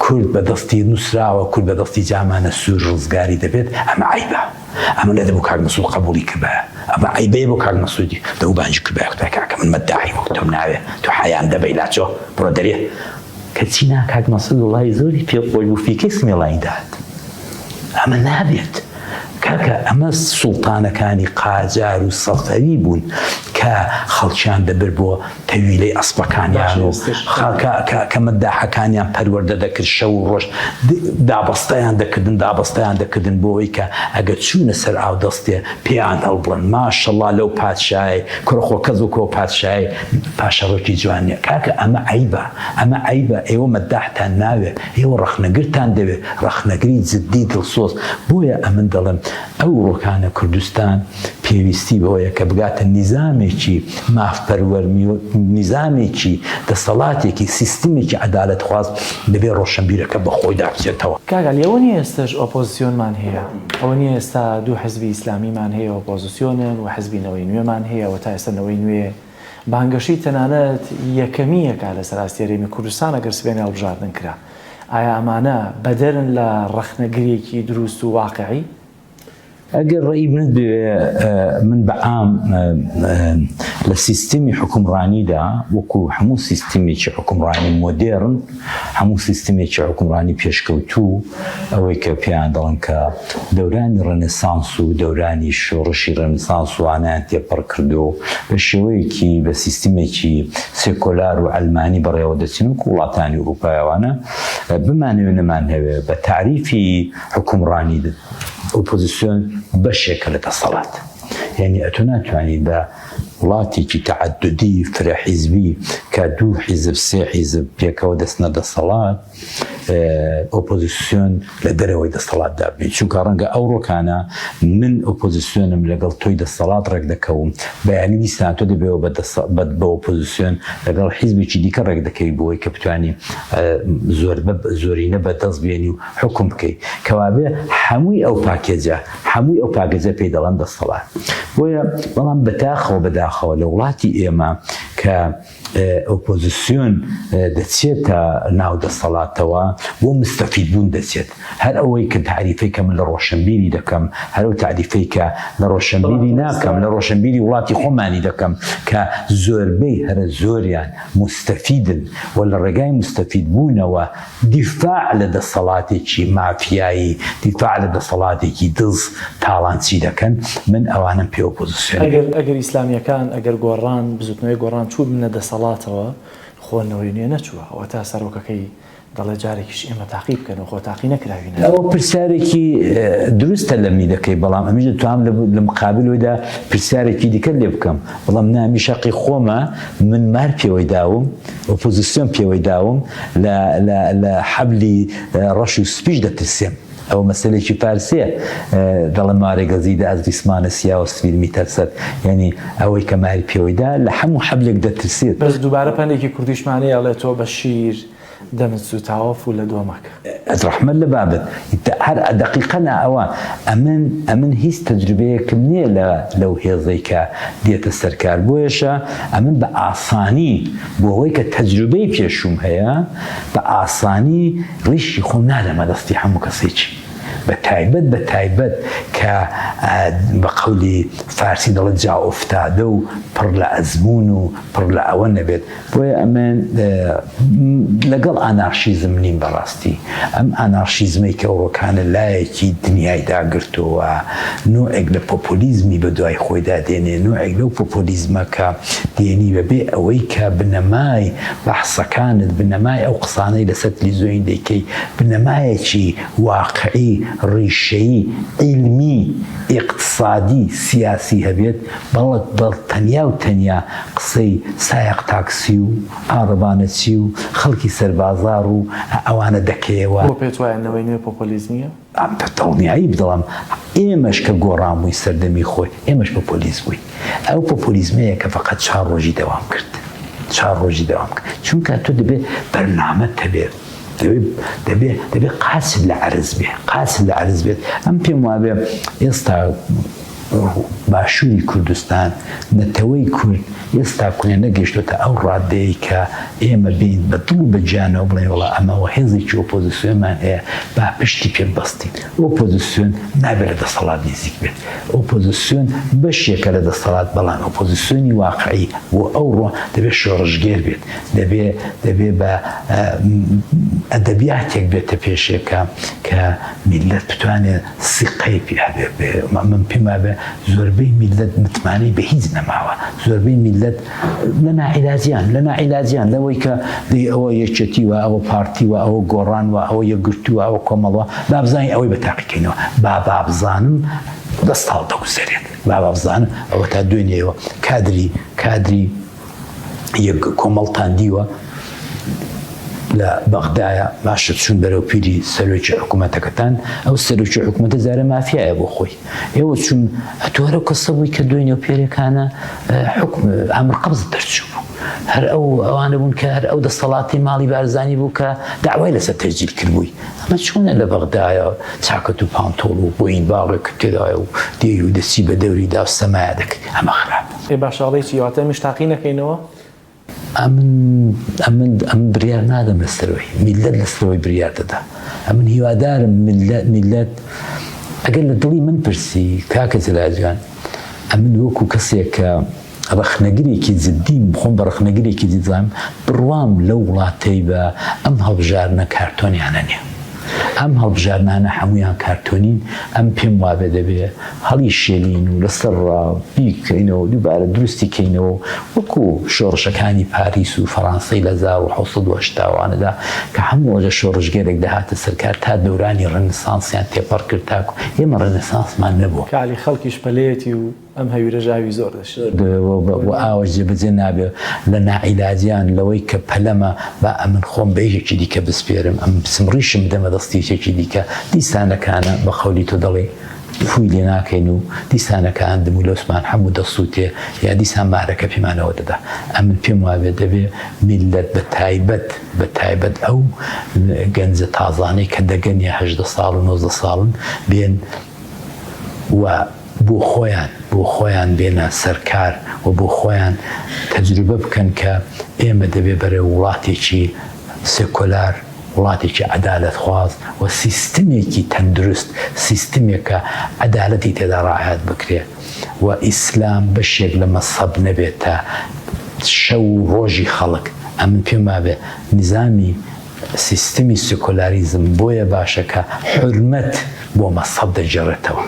کورد بە دەستی نوسراوە کورد بە دەستی جامانە سور ڕزگاری دەبێت ئەمە عەیبە ئەمە نەدە بۆ کاک مسعود قەبولی کردبایە ئەمە عەیبەیە بۆ کاک مسعودی دەو بانگی کردبایە کوتای کاکە من مەداحی وەک تۆم ناوێ تۆ حەیام دەبەی لاچۆ بڕۆ دەرێ کەچی نا کاک مسعود وڵای زۆری پێ خۆش بوو فیکەی سمێڵانی داد ئەمە نابێت کاکە ئەمە سوڵتانەکانی قاجار و سەفەوی بوون کە خەڵکیان دەبر بۆ تەویلەی ئەسپەکانیان و خاکە مەداحەکانیان پەروەردە دەکرد، شەو و ڕۆژ دابەستەیان دەکردن، دابەستەیان دەکردن بۆوەی کە ئەگەر چوونە سەر ئاودەستێ پێیان هەڵبڕن، ماشەڵا لەو پادشایەی، کوڕە خۆ کەس وەکو ئەو پادشایەی پاشەڕۆکی جوان نیە، کاکە ئەمە عەیبە، ئەمە عەیبە، ئێوە مەداحتان ناوێ، ئێوە ڕەخنەگرتان دەوێ، ڕەخنەگری جدی دڵسۆز، بۆیە ئەمن دەڵێم، ئەو ڕۆکانە کوردستان پێویستی بەوەیە کە بگاتە نیزامێکی مافپەروەر، نیزامێکی دەسەڵاتێکی سیستمێکی عەدالەتخواز دەبێ ڕۆشەنبیرەکە بە خۆیدا بچێتەوە. کاک علی ئەوە نیە ئێستەش ئۆپۆزسیۆنمان هەیە؟ ئەوە نیە ئێستا دوو حزبی ئیسلامیمان هەیە ئۆپۆزسیۆنن و حزبی نەوەی نوێمان هەیە و تا ئێستا نەوەی نوێ بانگەشەی تەنانەت یەکەمی یەکا لەسەر ئاستی هەرێمی کوردستان ئەگەر سبەینێ هەڵبژاردن کرا. ئایا ئەمانە بەدەرن لە ڕەخنەگرێکی دروست و واقعی؟ ئەگەر ڕێی منت بوێ من بە عام لە سیستمی حکومڕانیدا وەکو هەموو سیستمێکی حکومڕانی مۆدێرن هەموو سیستمێکی حکومڕانی پێشکەوتوو ئەوەی کە پێیان دەڵێن کە دەورانی ڕێنێسانس و دەورانی شۆڕشی ڕێنێسانس وانەیان تێپەڕ کردووە و بە شێوەیەکی بە سیستمێکی سێکۆلار و عەلمانی بەڕێوە دەچن وەکوو وڵاتانی ئورووپای وانە بمانەوێ نەمانەوێ بە تاریفی حوکمڕانی ئۆپۆزیسیۆن بەشێکە لە دەسەڵات یعنی ئەتۆ ناتوانیت بە وڵاتێکی تەعددی فرە حیزبی کە دوو حیزب سێ حیزب پێکەوە دەستنە دەسەڵات ئۆپۆزیسیۆن لە دەرەوەی دەستەڵاتدا بێ چونکە ڕەنگە ئەو ڕۆکانە من ئۆپۆزیسیۆنم لەگەڵ تۆی دەستەڵات ڕێک دەکەوم بەیانی دیسان تۆ دەبێەوە بە ئۆپۆزیسیۆن لەگەڵ حیزبێکی دیکە ڕێک دەکەوی بۆی کە بتانی زۆر زۆرینە بەدەست بێنی و حکم بکەیت کەوابێ هەمووی ئەو پاکێجە هەمووی ئەو پاگەجە پێی دەڵەن دەستەڵات بۆیە بەڵام بەتاخەوە بەداخەوە لە وڵاتی ئێمە کە ئۆپۆزسیۆن دەچێتە ناو دەسەڵاتەوە بۆ مستەفید بوون دەچێت هەر ئەوەی کە تاریفەی کە من لە ڕۆشنبیری دەکەم هەرو تاریفەی کە لە ڕۆشنبیری ناکەم لە ڕۆشنبیری وڵاتی خۆمانی دەکەم کە زۆربەی هەرە زۆریان مستەفیدن و لە ڕێگای مستەفید بوونەوە دیفاع لە دەسەڵاتێکی مافیایی، دیفاع لە دەسەڵاتێکی دز، تاڵانچی دەکەن، من ئەوانەم پێ ئۆپۆزسیۆن دەکەن. ئەگەر ئەگەر ئیسلامیەکان، ئەگەر گۆڕان، بزوتنەوەی گۆڕان چووبنە دەسەڵاتەوە، خۆ نەوەی نوێ نەچووە، ئەوەتا سەرۆکەکەی دەڵێ جارێکیش ئێمە تاقی بکەن و خۆ تاقی نەکراوینە. ئەوە پرسیارێکی دروستە لە می دەکەی، بەڵام ئەمیش دەتوانم لە مقابل ودا پرسیارێکی دیکەت لێ بکەم، بڵێم نا ئەمیش هەقی خۆمە، من مار پێوەی داوم، ئۆپۆزسیۆن پێوەی داوم، لە لە لە حەبلی ڕەش و سپیش دەترسێم. ئەوە مەسەلێکی فارسیە دەڵێ مارێ گەزی دە ئەز ریسمانە سیا و سفید می تەرسەد یانی ئەوەی کە ماری پێوەی دا لە حەموو حەبلێک دەترسێت. بەس دووبارە پەندێکی کوردیشمان هەیە ئەڵێ تۆ بە شیر دەمت سووتاوە فوو لە دۆ مەکە. ڕەحمەت لە بابت هەر دەقیقەن ئەوە ئەمن ئەمن هیچ تەجروبەیەکم نیە لە لەو هێزەی کە دێتە سەر کار بۆیەشە ئەمن بە ئاسانی. بۆ ئەوەی کە تەجروبەی پێشووم هەیە بە ئاسانی ڕیشی خۆم نادەمە دەستی هەموو کەسێکی بە تایبەت بە تایبەت کە بە قەولی فارسی دەڵێت جا ئۆفتادە و پڕ لە ئەزمون و پڕ لە ئەوە نەبێت بۆیە ئەمێن لەگەڵ ئانارشیزم نیم بەڕاست ڕاستی ئەم ئانارشیزمەی کە ئەوڕۆکانە لایەکی دنیای داگرتۆوە، نۆعێک لە پۆپۆلیزمی بە دوای خۆیدا دێنێ، نۆعێک لەو پۆپۆلیزمە کە دێنی بە بێ ئەوەی کە بنەمای بەحسەکانت، بنەمای ئەو قسانەی لە سەر تلیزۆین دەیکەی، بنەمایەکی واقعی، ڕیشەیی، عیلمی، ئیقتسادی، سیاسی هەبێت، بەڵک بە تەنیا و تەنیا قسەی سایەق تاکسی و. ئاڕڤانە چی و خەڵکی سەربازاڕ و ئەوانە دەکەیەوە. بۆ پێت وایە نەوەی نوێ پۆپۆلیزمییە؟ بە دڵنیایی، بەڵام ئێمەش کە گۆڕان بووین سەردەمی خۆی، ئێمەش پۆپۆلیست بووین. ئەو پۆپۆلیزمەیە کە فەقەت چوار ڕۆژی دەوام کرد. چوار ڕۆژی دەوام کرد. چونکە تۆ دەبێت بەرنامەت هەبێت. دەبێ دەبێ دەبێ قاسم لە عەرز بێ قاسم لە عەرز بێت ئەم پێم وابێ ئێستا باشووری کوردستان نەتەوەی کورد ئێستا کونێ نەگەشتێتە ئەو ڕادەیە کە ئێمە بین بە دڵ و بەجانەوە بڵێ وڵا ئەمەوە هێزێکی ئۆپۆزیسیۆنمان هەیە با پشتی پێ بەستین ئۆپۆزیسیۆن نابێت لە دەسەڵات نزیک بێت ئۆپۆزیسیۆن بەشێکە لە دەسەڵات بەڵام ئۆپۆزیسیۆنی واقعی بۆ ئەو ڕۆ دەبێت شۆڕژگێر بێت دەبێ دەبێ بە ئەدەبیاتێک بێتە پێشێکە کە میلەت بتوانێت سیقەی پیاێ من پێما بێ زۆربەی میلەت متمانەی بە هیچ نەماوە زۆربەی میلەت لە ناعیلاجیان لە ناعیلاجیان لەوەی کە دەی ئەوە یەکێتی وە ئەوە پارتی وە ئەوە گۆڕان وە ئەوە یەکگرتووە ئەوە کۆمەڵوە بابزانانی ئەوەی بە تاقیکەینەوە با بابزانم دەستاڵ دەگوزەرێت بابزانم ئەوە تا دوێنێەوە کادری کادری یەک کۆمەڵتان دیوە لە بەغدایە باشە چون بەرەو پیری سەرۆکی حکوومەتەکەتان ئەو سەرۆکی حکوومەتە زارە مافیایە بۆ خۆی ئێوە چون ئەتوارە کەسە بووی کە دوێنێ و پێرەکانە حکم ئەمر قبز دەرچوو بوو هەر ئەو ئەوانە بوون کە هەر ئەو دەسەڵاتی ماڵی بارزانانی بوو کە داوای لەسەر تەرجیل کردبووی ئەمە چۆنە لە بەغدایە چاکەت و پانتۆڵ و بۆین باڵێک تێدایە و دێ و دەسی بە دەوریدا سەمایە دەکرد ئەمە خراپ ئەی باشە ئەڵێی چی واتە ئەمیش تاقی نەکەینەوە؟ ئەمن ئەمن ئەم بریار نادەم لەسەرەوەی میلەت لەسەرەوەی بریار دەدا ئەمن هیوادارم میلەت میلەت ئەگەر لە دڵی من پرسی کاکە جلاجان ئەمن وەکو کەسێک کە ڕخنەگرێکی جدیم خۆم بە ڕخنەگرێکی دیزانم بڕوام لەو وڵاتەی بە ئەم هەڵبژارنە کارتۆنیانە نیە ئەم هەڵبژاردنانە حەموویان کارتۆنین، ئەم پێم وابێ دەبێ هەڵی شێلین و لەسەر ڕا بیکەینەوە و دووبارە دروستی کەینەوە و وەکو شۆڕشەکانی پاریس و فەڕانسەی لە هەزار و حەوت سەد و هەشتا وانەدا کە هەموو ئەوجە شۆڕشگێرێک دەهاتە سەر کار تا دەورانی ڕێنسانسیان تێپەڕ کرد تاکو ئێمە ڕێنسانسمان نەبووە. کالی خەڵکیش پەلەیەتی و ئەم هەویرەش ئاوی زۆر دەشێت. وە ئاوەش جێبەجێ نابێ لە ناعیلاجیان لەوەی کە پەلەمە با ئەمن خۆم بە یەکێکی دیکە بسپێرم ئەم بچم ڕیشم بدەمە دەستی یەکێکی دیکە دیسانەکانە بە قەولی تۆ دەڵێی فوی لێ ناکەین و دیسانەکان دم و لەوسمان هەموو دەسووتێ یا دیسان مارەکە پیمانەوە دەدا ئەمن پێم وابێ دەبێ میلەت بە تایبەت بە تایبەت ئەو گەنجە تازانەی کە دەگەنیە هەژدە ساڵ و نۆزدە ساڵن بێن و بۆ خۆیان بۆ خۆیان بێنە سەر کار و بۆ خۆیان تەجروبە بکەن کە ئێمە دەبێ بەرەو وڵاتێکی سێکۆلار، وڵاتێکی عەدالەتخواز و سیستمێکی تەندروست، سیستمێک کە عەدالەتی تێدا ڕاعایەت بکرێ و ئیسلام بەشێک لە مەزهەب نەبێتە شەو و ڕۆژی خەڵک. ئەمن پێم وابێ نیزامی. سیستمی سیکۆلاریزم بۆیە باشە کە حورمەت بۆ مەزهەب دەگێڕێتەوە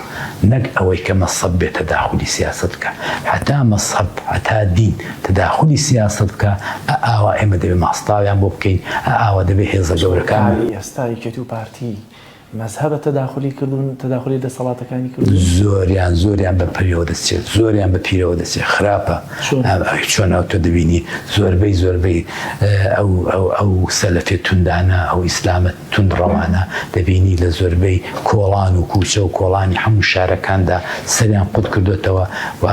نەک ئەوەی کە مەزهەب بێ تەداخولی سیاسەت بکا هەتا مەزهەب هەتا دین تەداخولی سیاسەت بکا ئە ئاوا ئێمە دەبێ ماستاویان بۆ بکەین ئە ئاوا دەبێ هێزە گەورەکان کاری ئێستای کەتوو پارتی مەزهەبە تەداخولی کردوون، تەداخولی دەسەڵاتەکانی کردوون. زۆریان زۆریان بە پەرێوە دەچێت، زۆریان بە پیرەوە دەچێت، خراپە. چۆن؟ چۆن ئەو تۆ دەبینی زۆربەی زۆربەی ئەو ئەو ئەو سەلەفێ توندانە، ئەو ئیسلامە توندڕەوانە دەبینی لە زۆربەی کۆڵان و کووچە و کۆڵانی هەموو شارەکاندا سەریان قوت کردۆتەوە و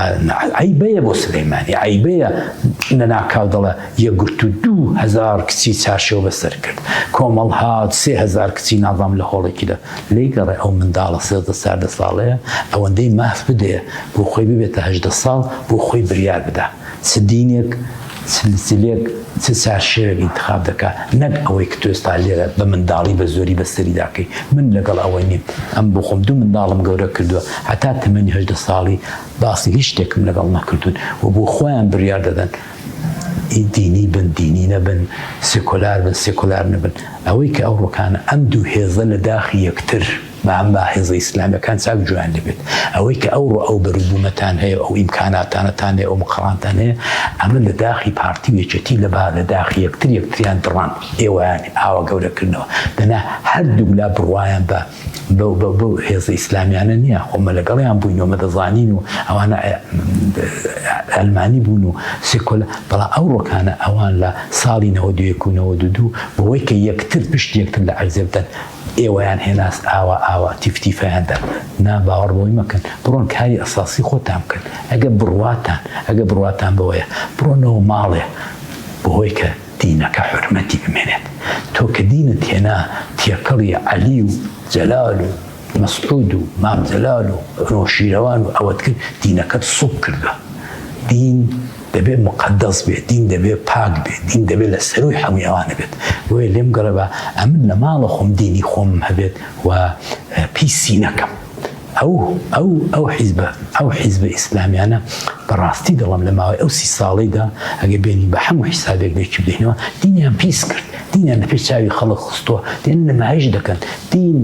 عەیبەیە بۆ سلەیمانی، عەیبەیە لەناکاو دەڵێ، یەکگرتوو دوو هەزار کچی چارشێو بەسەر کرد. کۆمەڵ هات سێ هەزار کچی ناڤام لە هۆڵێکیدا لێی گەڕێ. ئەو منداڵە سێزدە چاردە ساڵەیە ئەوەندەی ماف بدەیە بۆ خۆی ببێتە هەژدە ساڵ بۆ خۆی بریار بدا چ دینێک چ لچلێک چ چارشێوێک ئینتخاب دەکا نەک ئەوەی کە تۆ ئێستا لێرە بە منداڵی بە زۆری بە سەریدا کەی. من لەگەڵ ئەوە نیم. ئەم بۆ خۆم دوو منداڵم گەورە کردووە هەتا تەمەنی هەژدە ساڵی باسی هیچ شتێکم لەگەڵ نەکردوون و بۆ خۆیان بریار دەدەن. ی دینی بن دینی نەبن، سیکۆلار بن سیکۆلار نەبن، ئەوەی کە ئەو ڕوکانە ئەم دوو هێزە لە داخی یەکتر بە ئەم با هێزە ئیسلامیەکان چاک جویان لێ بێت، ئەوەی کە ئەو ڕۆ ئەو بەرو بومەتان هەیە ئەو ئیمکاناتانەتان هەیە ئەو مقڕانتان هەیە ئەمە لە داخی پارتی و یەکێتی لە با لە داخی یەکتر یەکتریان دڕاند ئێوەیان ئاوا گەورە کردنەوە دەنا هەردووک لا بڕوایان بە بەو بەو بەو هێزە ئیسلامیانە نییە خۆمە لەگەڵیان بووینەوە مەدەزانین و ئەوانە ئەلمانی بوون و سکل بەڵا ئەو ڕۆکانە ئەوان لە ساڵی نەوە دوێکوونەوە دوو دوو بەوەی کە یەکتر پشت یەکتر لە عەرزێ بدەن ئێوەیان هێناس ئاوا ئاوا تیفتیفیاندا نا باوەڕ بۆی مەکەن بڕۆن کاری ئەساسی خۆتان بکەن ئەگە بڕواتان ئەگە بڕواتان بەوەیە بڕۆنەوە ماڵێ بەهۆی کە دینەکە حورمەتی بمێنێت تۆ کە دینت هێنا تێکەڵی عەلی و جەلال و مەسعود و مام جەلال و نەوشیروان و ئەوەت کرد دینەکەت سوک کردوە دین دەبێ مقدس بێت دین دەبێ پاک بێت دین دەبێ لە سەروی حەموی ئەوانە بێت بۆیە لێم گەڕێبا ئەمن لە ماڵە خۆم دینی خۆم هەبێت و پیسی نەکەم ئەو ئەو ئەو حیزبە ئەو حیزبە ئیسلامیانە بەڕاستی دەڵم لە ماوەی ئەو سی ساڵیدا ئەگە بێنی بە هەموو حیسابێک دەکی بدەینەوە دینیان پیس کرد دینیان لە پێش چاوی خەڵک خستووە دێن نمایش دەکەن دین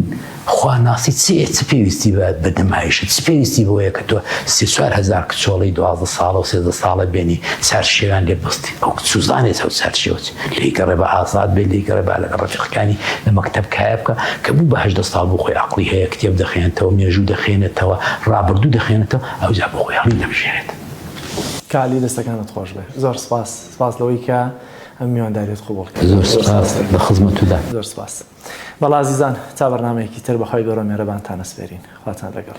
خواناسی چێ چ پێویستی بە بە نمایشت چ پێویستی بۆیە کە تۆ سێ چوار هزار کچۆڵی دوازدە ساڵە و سێزدە ساڵە بێنی چار شێوان لێ بەستی ئەو کچ سوزانێ چەو سەر شێوت لێی گەڕێ بە ئازاد بێت لێی گەڕێ با لەگە ڕەفیقەکانی لە مەکتەب کایە بکە کە بوو بە هەژدە ساڵ بۆ خۆی عەقڵی هەیە کتێب دەخوێنێتەوە مێژوو دەخوێنێتەوە ڕابردوو دەخوێنێتەوە ئەوجا بۆ خۆی هەڵی دەبژێرێت. کالی دەستەکانت خۆش بێ زۆر سپاس سپاس لەوەی کە ئەم میوانداریت قبوڵ کرد زۆر سپاس لە خزمەتتدا زۆر سپاس بەڵا ئازیزان تا بەرنامەیەکی تر بەخوای گەورە مێرەبانتان ئەسپێرین خواتان لەگەڵ.